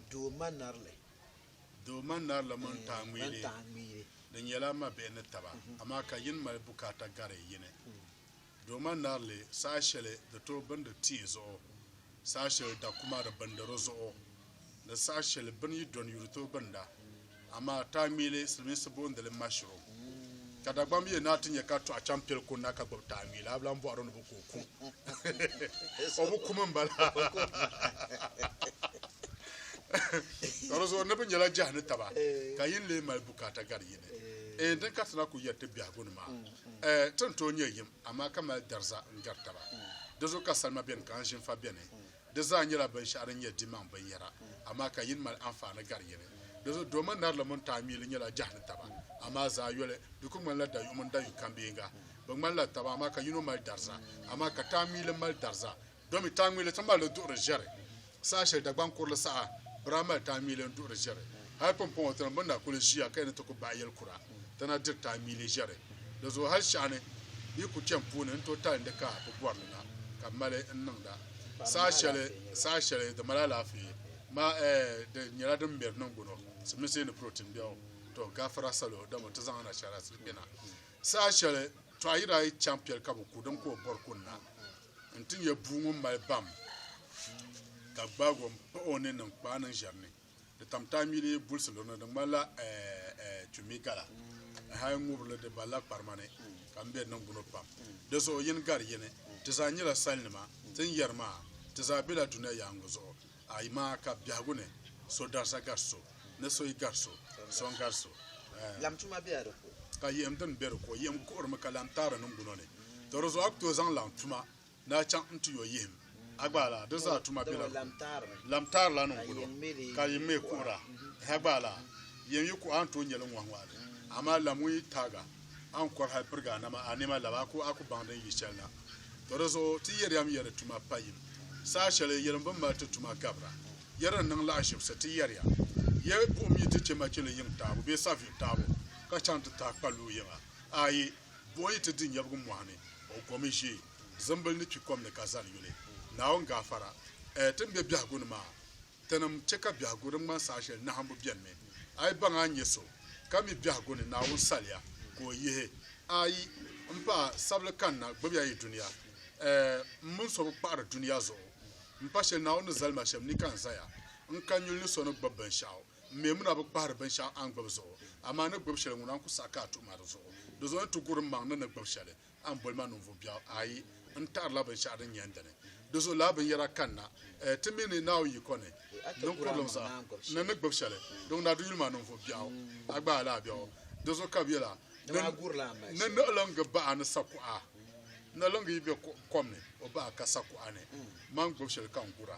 Doo ma nari li. Doo ma nari la mɔni tahi ŋmiili di nyɛla mabihi ni taba, amaa ka yini mali bukaata gari yini. Doo ma nari li saha shɛli di tooi bindi tia zuɣu, saha shɛli dakuma di bindi di zuɣu, ni saha shɛli bini yi dɔni yuri tooi binda. Amaa tahi ŋmiili, Silimiinsi boondi li mushroom. Ka Dagbam bi yɛn naa ti nyɛ ka tɔɣa chaŋ piɛli ko na ka gbubi taanwii la, a bi lan bɔhiri o ni bi ku o kum. O bi kum m-bala. Ka di zuɣu niriba nyɛla jɛhi ni taba ka yin lee mali bukaata gari yi ni. Eei din ka ti na ku yɛri ti biɛhigu ni maa, Ti ni tooi nyɛ yim, amaa ka mali dariza n-gari taba. Di zuɣu ka salima beni ka anzinfa beni. Di zaa nyɛla binshɛɣu din nyɛ dimaŋ binyɛra, amaa ka yini mali anfaani gari yini. Dinzuɣu dooma narili mini taamiili nyɛla jɛhi ni taba, amaa zaa yoli. Di kul ŋmanila dayuɣu mini dayuɣu kambeeŋga. Bɛ ŋmanila taba, amaa ka yino mali dariza, amaa ka taamiili mali dariza. Domi taamiili ti mali li duɣiri ʒiɛri. Saha shɛli Dagbaŋ kurili saha, bɛ daa mali taamiili n-duɣiri ʒiɛri. Hal pumpɔŋɔ ti ni bi na kul ʒiya ka yi ni ti ku bahi yɛlikura. ti na diri ti a miili ʒiɛri. Di zuɣu hal shɛɣuni yi ku chani puuni n-tooi tali n-di ka bi bɔri li na ka mali n-niŋda saha shɛli saha shɛli di mali alaafee ma ɛɛ di nyɛla din mɛri niŋgbuno siminsi ni protein biɛɣu. To gafara salo dama ti zaŋ anashaara sili kpe na saha shɛli tɔɣa yi daa yi chaŋ piɛli ka bi ku din ka o bɔri ku na n-ti nyɛ bua ŋun mali bam ka gbaag o m-pahi o ni niŋ kpaai niŋ ʒiɛri ni. Di tam taai mi di bulisi lo ni di ŋmanila kpimmi gala ni hali ŋubirili di balila kparima ni ka m be niŋgbuno pam. Di zuɣu yin gari yini, ti zaa nyɛla salinima, tin yɛri maa, ti zaa bela dunia yaaŋɔ zuɣu, amaa ka biɛhigu ni, so darisa gari so, ni so yi gari so, so n-gari so. Laɣim tuma bela di ko. Ka yiɣim dini be di ko, yiɣim kuhirimi ka laɣim taai di niŋgbuno ni, tɔ di zuɣu a ku tooi zaŋ laɣim tuma daa chaŋ n-ti yo yihim a gba laa, di zaa tuma bela du lamtaar la ni n-gul o, ka yi ŋme kuɣira ha gba laa, yɛn yi kuɣ a ni tooi nya li ŋɔhi ŋɔhi li, amaa lam ŋun yi taag a, a ni kɔri hal pirigi a nama a nɛma lab a ku a ku baŋ din yi chɛli na. Tɔ di zuɣu ti yɛri ya mi ya di tuma pa yim, saha shɛli yɛlim bi ni mali ti tuma gabira, ya din niŋ lahiʒibisi ti yɛri ya, ya buɣim yi ti chɛ machili yiŋ taabo bee saviɣ taabo ka chaŋ ti tahi kpalluɣu yiŋa? Aai! Buɣi yi ti di nyɛbigu mɔɣu ni, o gomi ʒe zimbili ni kpi kom ni ka zali yuli. Naawuni gaafara, Ɛɛ ti ni be biɛhigu ni maa? Tinim chɛ ka biɛhigu din ŋmani saha shɛli nahimbu beni mi. A yi baŋ a ni nyɛ so ka mi biɛhigu ni Naawuni saliya ka o yihi a, yi ni paai sabili kanna gbibi ya yi dunia. Ɛɛ m mini so bi kpaɣiri dunia zuɣu m pa shɛli Naawuni ni zali ma shɛm ni ka n zaya n kani yuli ni so ni gbibi binshɛɣu. M mi ŋuna bi kpahiri binshɛɣu a ni gbibi zuɣu, amaa ni gbibi shɛli ŋuna n-ku saɣi ka a tuhi ma di zuɣu. Di zuɣu n-ni ti gur m-maŋ ni ni gbibi shɛli, a ni boli ma ninvuɣ biɛɣu? Aai! N taɣirila binshɛɣu din yɛn dini. Di zuɣu lala binyɛra kanna ti mi ni Naawuni yiko ni ninkurlim zaa. N ni ni gbibi shɛli, di ŋuna di yuli ma ninvuɣ biɛɣu. A gbaai la a biɛɣu. Di zuɣu ka bɛ yɛl a, Ni niɣilingi baɣa ni sakuɣa, niɣilingi yi be kom ni, o baɣa ka sakuɣa ni. Man gbibi shɛli ka n gur a.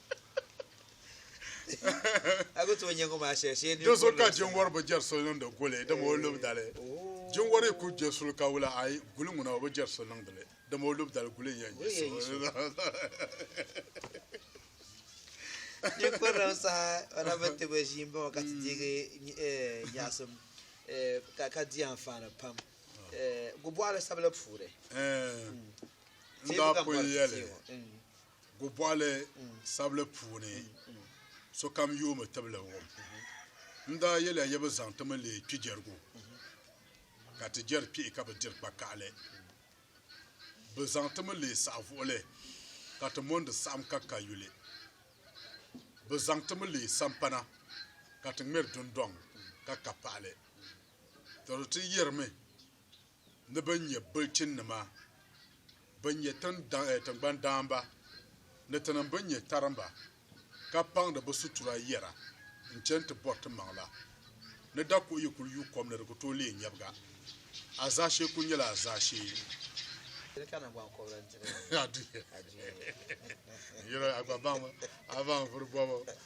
Do so ka jinwari bi jɛri so niŋdi guli dama o lub dali. Jinwari ku je suli ka wula ayi guli ŋuna o bi jɛri so niŋdi li dama o lub dali guli n-yɛn yi so. Gobɔɣili sabili puuni sokam yoomi tibili wum. N daa yɛliya ya bi zaŋ ti mi leei kpijɛrigu ka ti jɛri kpihi ka bi diri kpakaɣili. Bi zaŋ ti mi leei saɣivuɣili ka ti mondi saɣim ka ka yuli. Bi zaŋ ti mi leei sampana ka ti ŋmɛri dundɔŋ ka ka paɣili. Tɔro ti yɛrimi. ni bɛn nyɛ bilichinnima, bɛn nyɛ tiŋgbani daamba, ni tinim bɛn nyɛ tarimba, ka paŋdi bɛ sutura yɛra n-chani ti bɔri ti maŋ la, ni dakuɣu yi kul yu kom ni di ku tooi leei nyɛbiga, a zaashee kul nyɛla a zaashee.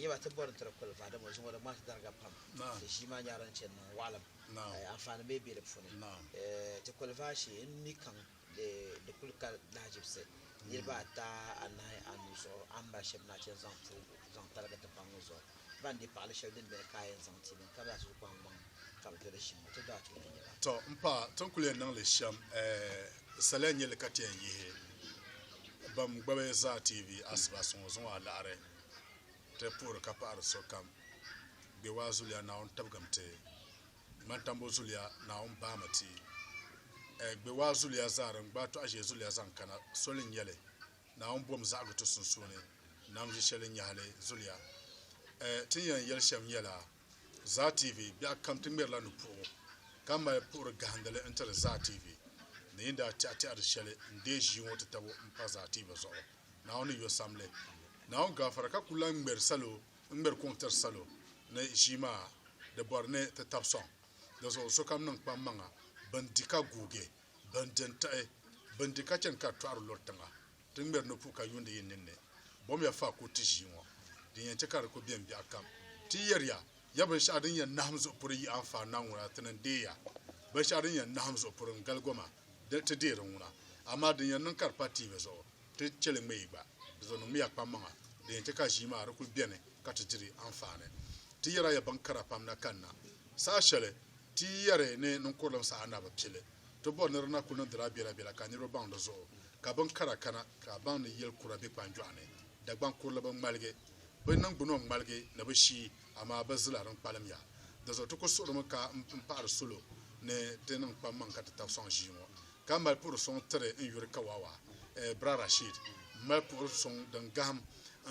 Yi ba ti bɔri n-tiri kul va, dama o zuŋɔ di ŋmaai ti dariga pam. Di ʒii maa nyaari n-chani niŋ waɣilim. Anfaani bee be di puuni? Ti kul va shee m-mi kaŋ di kul ka lahajibisi niriba ata, anahi, anu zuɣu a ni mali shɛb nachin zaŋ puhigu zaŋ taligi tipaŋ ŋɔ zuɣu. Ba n-di paɣili shɛli din beni ka a yɛn zaŋ ti bɛ ni ka bɛ zaa ti zu kpaŋ gbaŋ. ka bɛ dali shɛm, ti daa tooi n-yɛl a. Tɔ! M paɣa, ti ni kul yɛn niŋ li shɛm, ɛɛh, saliya n-nyɛ li ka ti yɛn yihi bɛn gbabi Zaa TV asiba so ŋɔ zuŋɔ alaɣiri. Ti puhiri ka paɣiri sokam Gbewaa zuliya Naawuni tabigimi ti, Mantambo zuliya Naawuni baami ti, ɛɛh, Gbewaa zuliya zaa din gbaai Tɔɣ'ʒee zuliya zaŋ kana soli n-nyɛ li. Naawuni bom zaɣigi ti sunsuuni, Nam ʒishɛli Nyahili zuliya. Ɛɛh, ti ni yɛn yɛli shɛm nyɛla. Zaa TV biɛɣu kam ti ŋmɛrila ni puɣigu ka mali puɣiri gahindili n-tiri Zaa TV ni yi daa tɛɣi tɛɣiri shɛli n-deei ʒii ŋɔ ti tabu m-pa Zaa TV zuɣu. Naawuni yɔ sam li. Naawuni gaafara ka ku lan ŋmɛri salo n-ŋmɛri kuŋ tiri salo ni ʒii maa di bɔri ni ti tab sɔŋ. Di zuɣu sokam niŋ kpammaŋa, bɛn di ka guugi, bɛn di n-tiɣi, bɛn di ka chani ka di tɔɣiri luri tiŋa. Ti ŋmɛri ni puu ka yuundi yi ninni, bɔmiya faa ku ti ʒii ŋɔ, din yɛn chɛ ka di ku bɛm biɛɣukam. Ti yɛri ya, ya binshɛɣu din yɛn nahim zuɣu puri yi anfaani na ŋuna, ti ni deei ya. Binshɛɣu din yɛn nahim zuɣu puri n-gali goma, dini ti deei di ŋuna. Amaa din yɛn niŋ ka di pa tiivi zuɣu, ti chɛ li ŋmɛ yi gba. Di zuɣu niŋmiya kpammaŋa, din yɛn chɛ ka ʒii maa di kul beni ka ti diri anfaani. Ti yɛri a ya binkara pam na kanna. Saha shɛli ti yi yɛri ni niŋkurilim saha na bi pili, ti bɔri ni di na kul niŋdila biɛlabiɛla ka niriba baŋ di zuɣu. Ka bin kara kana ka a baŋ ni yɛl kura be kpanjɔɣu ni, Dagbaŋ kurili bi ŋmaligi, bi niŋgbuna ŋmaligi ni bi shii, amaa bi zila din kpalim ya. Dinzuɣu ti ku suɣirimi ka n paɣiri salo ni ti niŋ kpammaŋ ka ti tab sɔŋ ʒii ŋɔ, ka mali puhiri sɔŋ tiri n yuri kawaawa, eh, Bra Rashid. M mali puhiri sɔŋ din gahim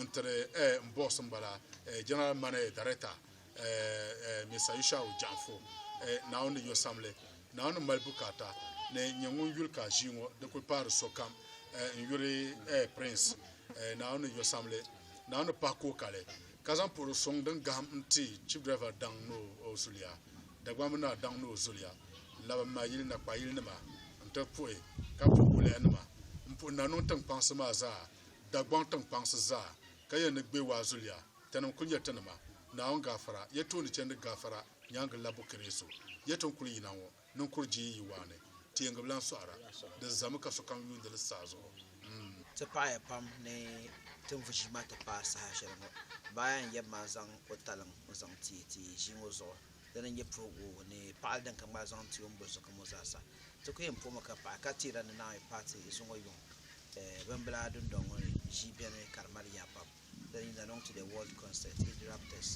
n tiri eh, m boss m bala eh, General Mane Dareta. Mr. Yushau Janfo, Naawuni ni yo sam li. Naawuni mali bukaata ni n-nyɛ ŋun yuli ka ʒii ŋɔ di kul paari sokam n-yuri Prince Naawuni ni yo sam li. Naawuni ni pahi ka o kali, ka zaŋ puhiri suŋ din gahim n-ti Chief Driver daŋ ni o zuliya, Dagbamb naa daŋ ni o zuliya, n-labi m-mali yili nakpayilnima n-ti puhi ka puhi bulihinima m-puhi Nanɔŋ tiŋkpaŋsi maa zaa, Dagbaŋ tiŋkpaŋsi zaa, ka yɛn ni Gbewaa zuliya. Tinim kul nyɛ ti nima, Naawuni gaafara ya tooni chandi gaafara nyaaŋa labbu Kiriisu. Ya ti ni kul yina ŋɔ, ni n kuri jiin yi waa ni, teeŋgi bila n-sɔɣira. Di zami ka sokam yuundi li saha zuɣu. M. Ti paɣiya pam ni ti ni vu ʒiima ti paai saha shɛli ŋɔ. Baaya n-yab ma zaŋ o taliŋ n-zaŋ ti ti ʒii ŋɔ zuɣu. Dina n-nyɛ puhigu ni paɣili din ka ŋmali zaŋ ti o ni boli sokam ŋɔ zaa sa. Ti ku yɛn puhimi ka paɣi ka teera ni Naawuni paati zuŋɔ yuŋ bimbila dundɔŋ ŋɔ ni ʒii beni ka di mali yaa pam. bɛ yina niŋ ti the World Concert Age Raptors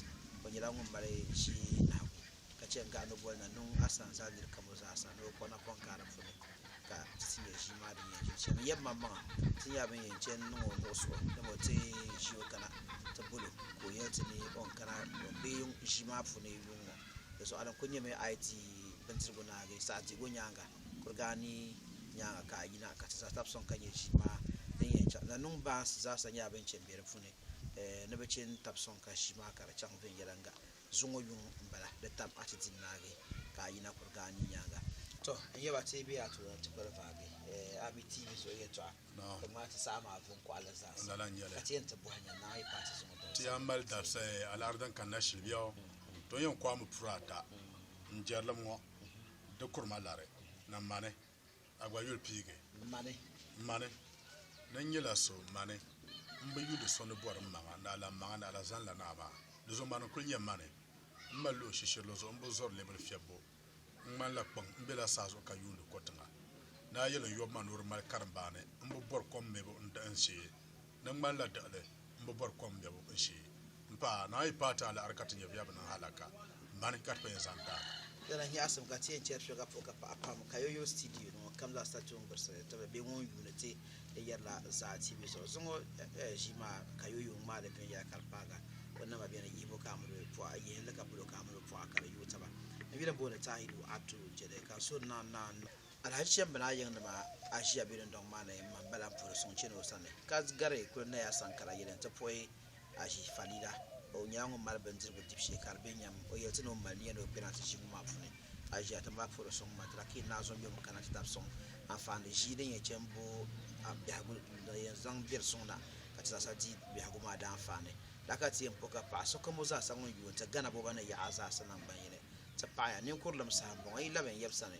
o nyɛla ŋun mali ʒii nahigu ka chɛ n-gahi ni boli na niŋ Asan zaa nir kam o zaasa ni o kpuɣi napɔŋ kaai di puuni ka ti nya ʒii maa din yɛn jiri shɛm. N yɛbi maŋmaŋa ti nyɛla bɛn yɛn chɛ n-niŋ o nuɣisigu dama o ti ʒi o kana ti bol o ka o yɛli ti ni o ni kana bɛ yuŋ ʒii maa puuni yuŋ ŋɔ. Di zuɣu a ni kul nyɛmi a yi di bindirigu naagi saɣidihigu nyaaŋa. kuliga anii nyaanga ka a yina ka ti zaa tab sɔŋ ka nya ʒii maa din yɛn chaŋ. Nannuŋ baansi zaasa nyɛla bɛn chɛ m-be di puuni ni bɛ chɛ n-tab sɔŋ ka ʒii maa ka di chaŋ viɛnyɛliŋga zuŋɔ yuŋ m-bala. Di tam a ti di naagi ka a yina kuliga anii nyaanga. Tɔ! N yɛba ti be a tooni ti kpiri vaagi a mi ti yi zuɣu yɛtɔɣa ka ŋmaai ti saha maa vuŋ kɔɣili zaasa ka ti yɛn ti bɔhi nya naai yi paai ti zuŋɔ dabisa. Ti yɛn mali dabisa alaari din kanna shili biɛɣu. Tɔ! N yɛn kɔhimi puri ata n jɛrilim ŋɔ. di kuri ma lari na mani, a gba yuli piigi mani. Mani, di nyɛla so mani, m bi yuli so ni bɔri m maŋa ni a lan maŋa ni a la zani la naa maa. Di zuɣu mani n-kul nyɛ mani. M mali luɣ shishirili zuɣu m bi zɔri lɛbil fiɛbbu. N ŋmani la kpiŋ, m be la saa zuɣu ka yuuni ko tiŋa. Ni a yɛli n yɔbu ma ni o di mali karimbaani, m bi bɔri kom mɛbu n-diɣi n shee. Di ŋmani la diɣili. m bi bɔri kom biɛbu n sheei m-pa a, Naa yi paai ti alaɣiri ka ti nya bɛ a bi niŋ halaka m-bani ka ti pa yɛn zaŋ ti a. Lala nyaɣisim ka ti yɛn chɛri shɛli ka puhi ka paɣa pam ka yo yuli studio ni ŋɔ kam zaa sa tuun gbirisili ni tibili bɛ ŋun yuuni ti ni yɛri la zaa TV zuɣu. Zuŋɔ ʒii maa ka yo yuun ŋmaai li viɛnyɛla ka di paaga o nama bɛ ni yihibu ka a mini o bi pɔɣi, yihin li ka palo ka a mini o pɔɣi ka di yuui taba. N yuli m-booni Tahiru Attu n-chɛ li ka n suhu naannaani. Alhaji Chembinaa yiŋnima aʒia be dundɔŋ maa ni m-mani ba lan puhiri suŋ chani o sani, ka gari kuli Naya Sankara yɛli nti puhi aʒi Falila. O nyɛla ŋun mali bindirigu dibu shee ka di be nyam. O yɛli ti ni o mali niya ni o kpɛna ti ʒiŋ maa puuni. Aʒia ti mali puhiri suŋ maa, tila ka yi naai zɔnjom kana ti tab suŋ anfaani ʒii din yɛn chani bo biɛhigu din yɛn zaŋ beri suŋ na ka ti zaasa di biɛhigu maa daanfaani. Lala ka ti yɛn puhi ka paɣ sokam o zaasa ŋun yuui n-ti Ghana boba ni yaɣa zaasa naŋgban yini ti paɣi ya. Ninkurulim saha m-bɔŋɔ, yi labi n-yab sani.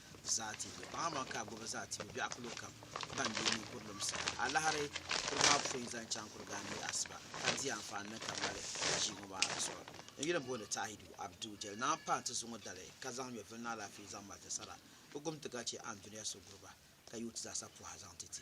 zaatibu baŋmaŋ ka a gbubi zaatibu biɛɣu kilo kam ban deei ninkurilim soli. Alahiri kuri maa pun zaŋ chaŋ Kurigaan ni asiba ka di anfaani ni ka mali ʒii ŋɔ maa di zuɣu. N yuli m-booni Tahidu Abdu Jɛli Naa m-paai nti zuŋ o dali ka zaŋ nyɔvili ni alaafee zaŋ mali ti sara. Bɛ gum ti ka chɛ Anduniya so guri ba ka yooi ti zaasa pɔha zaŋ ti ti.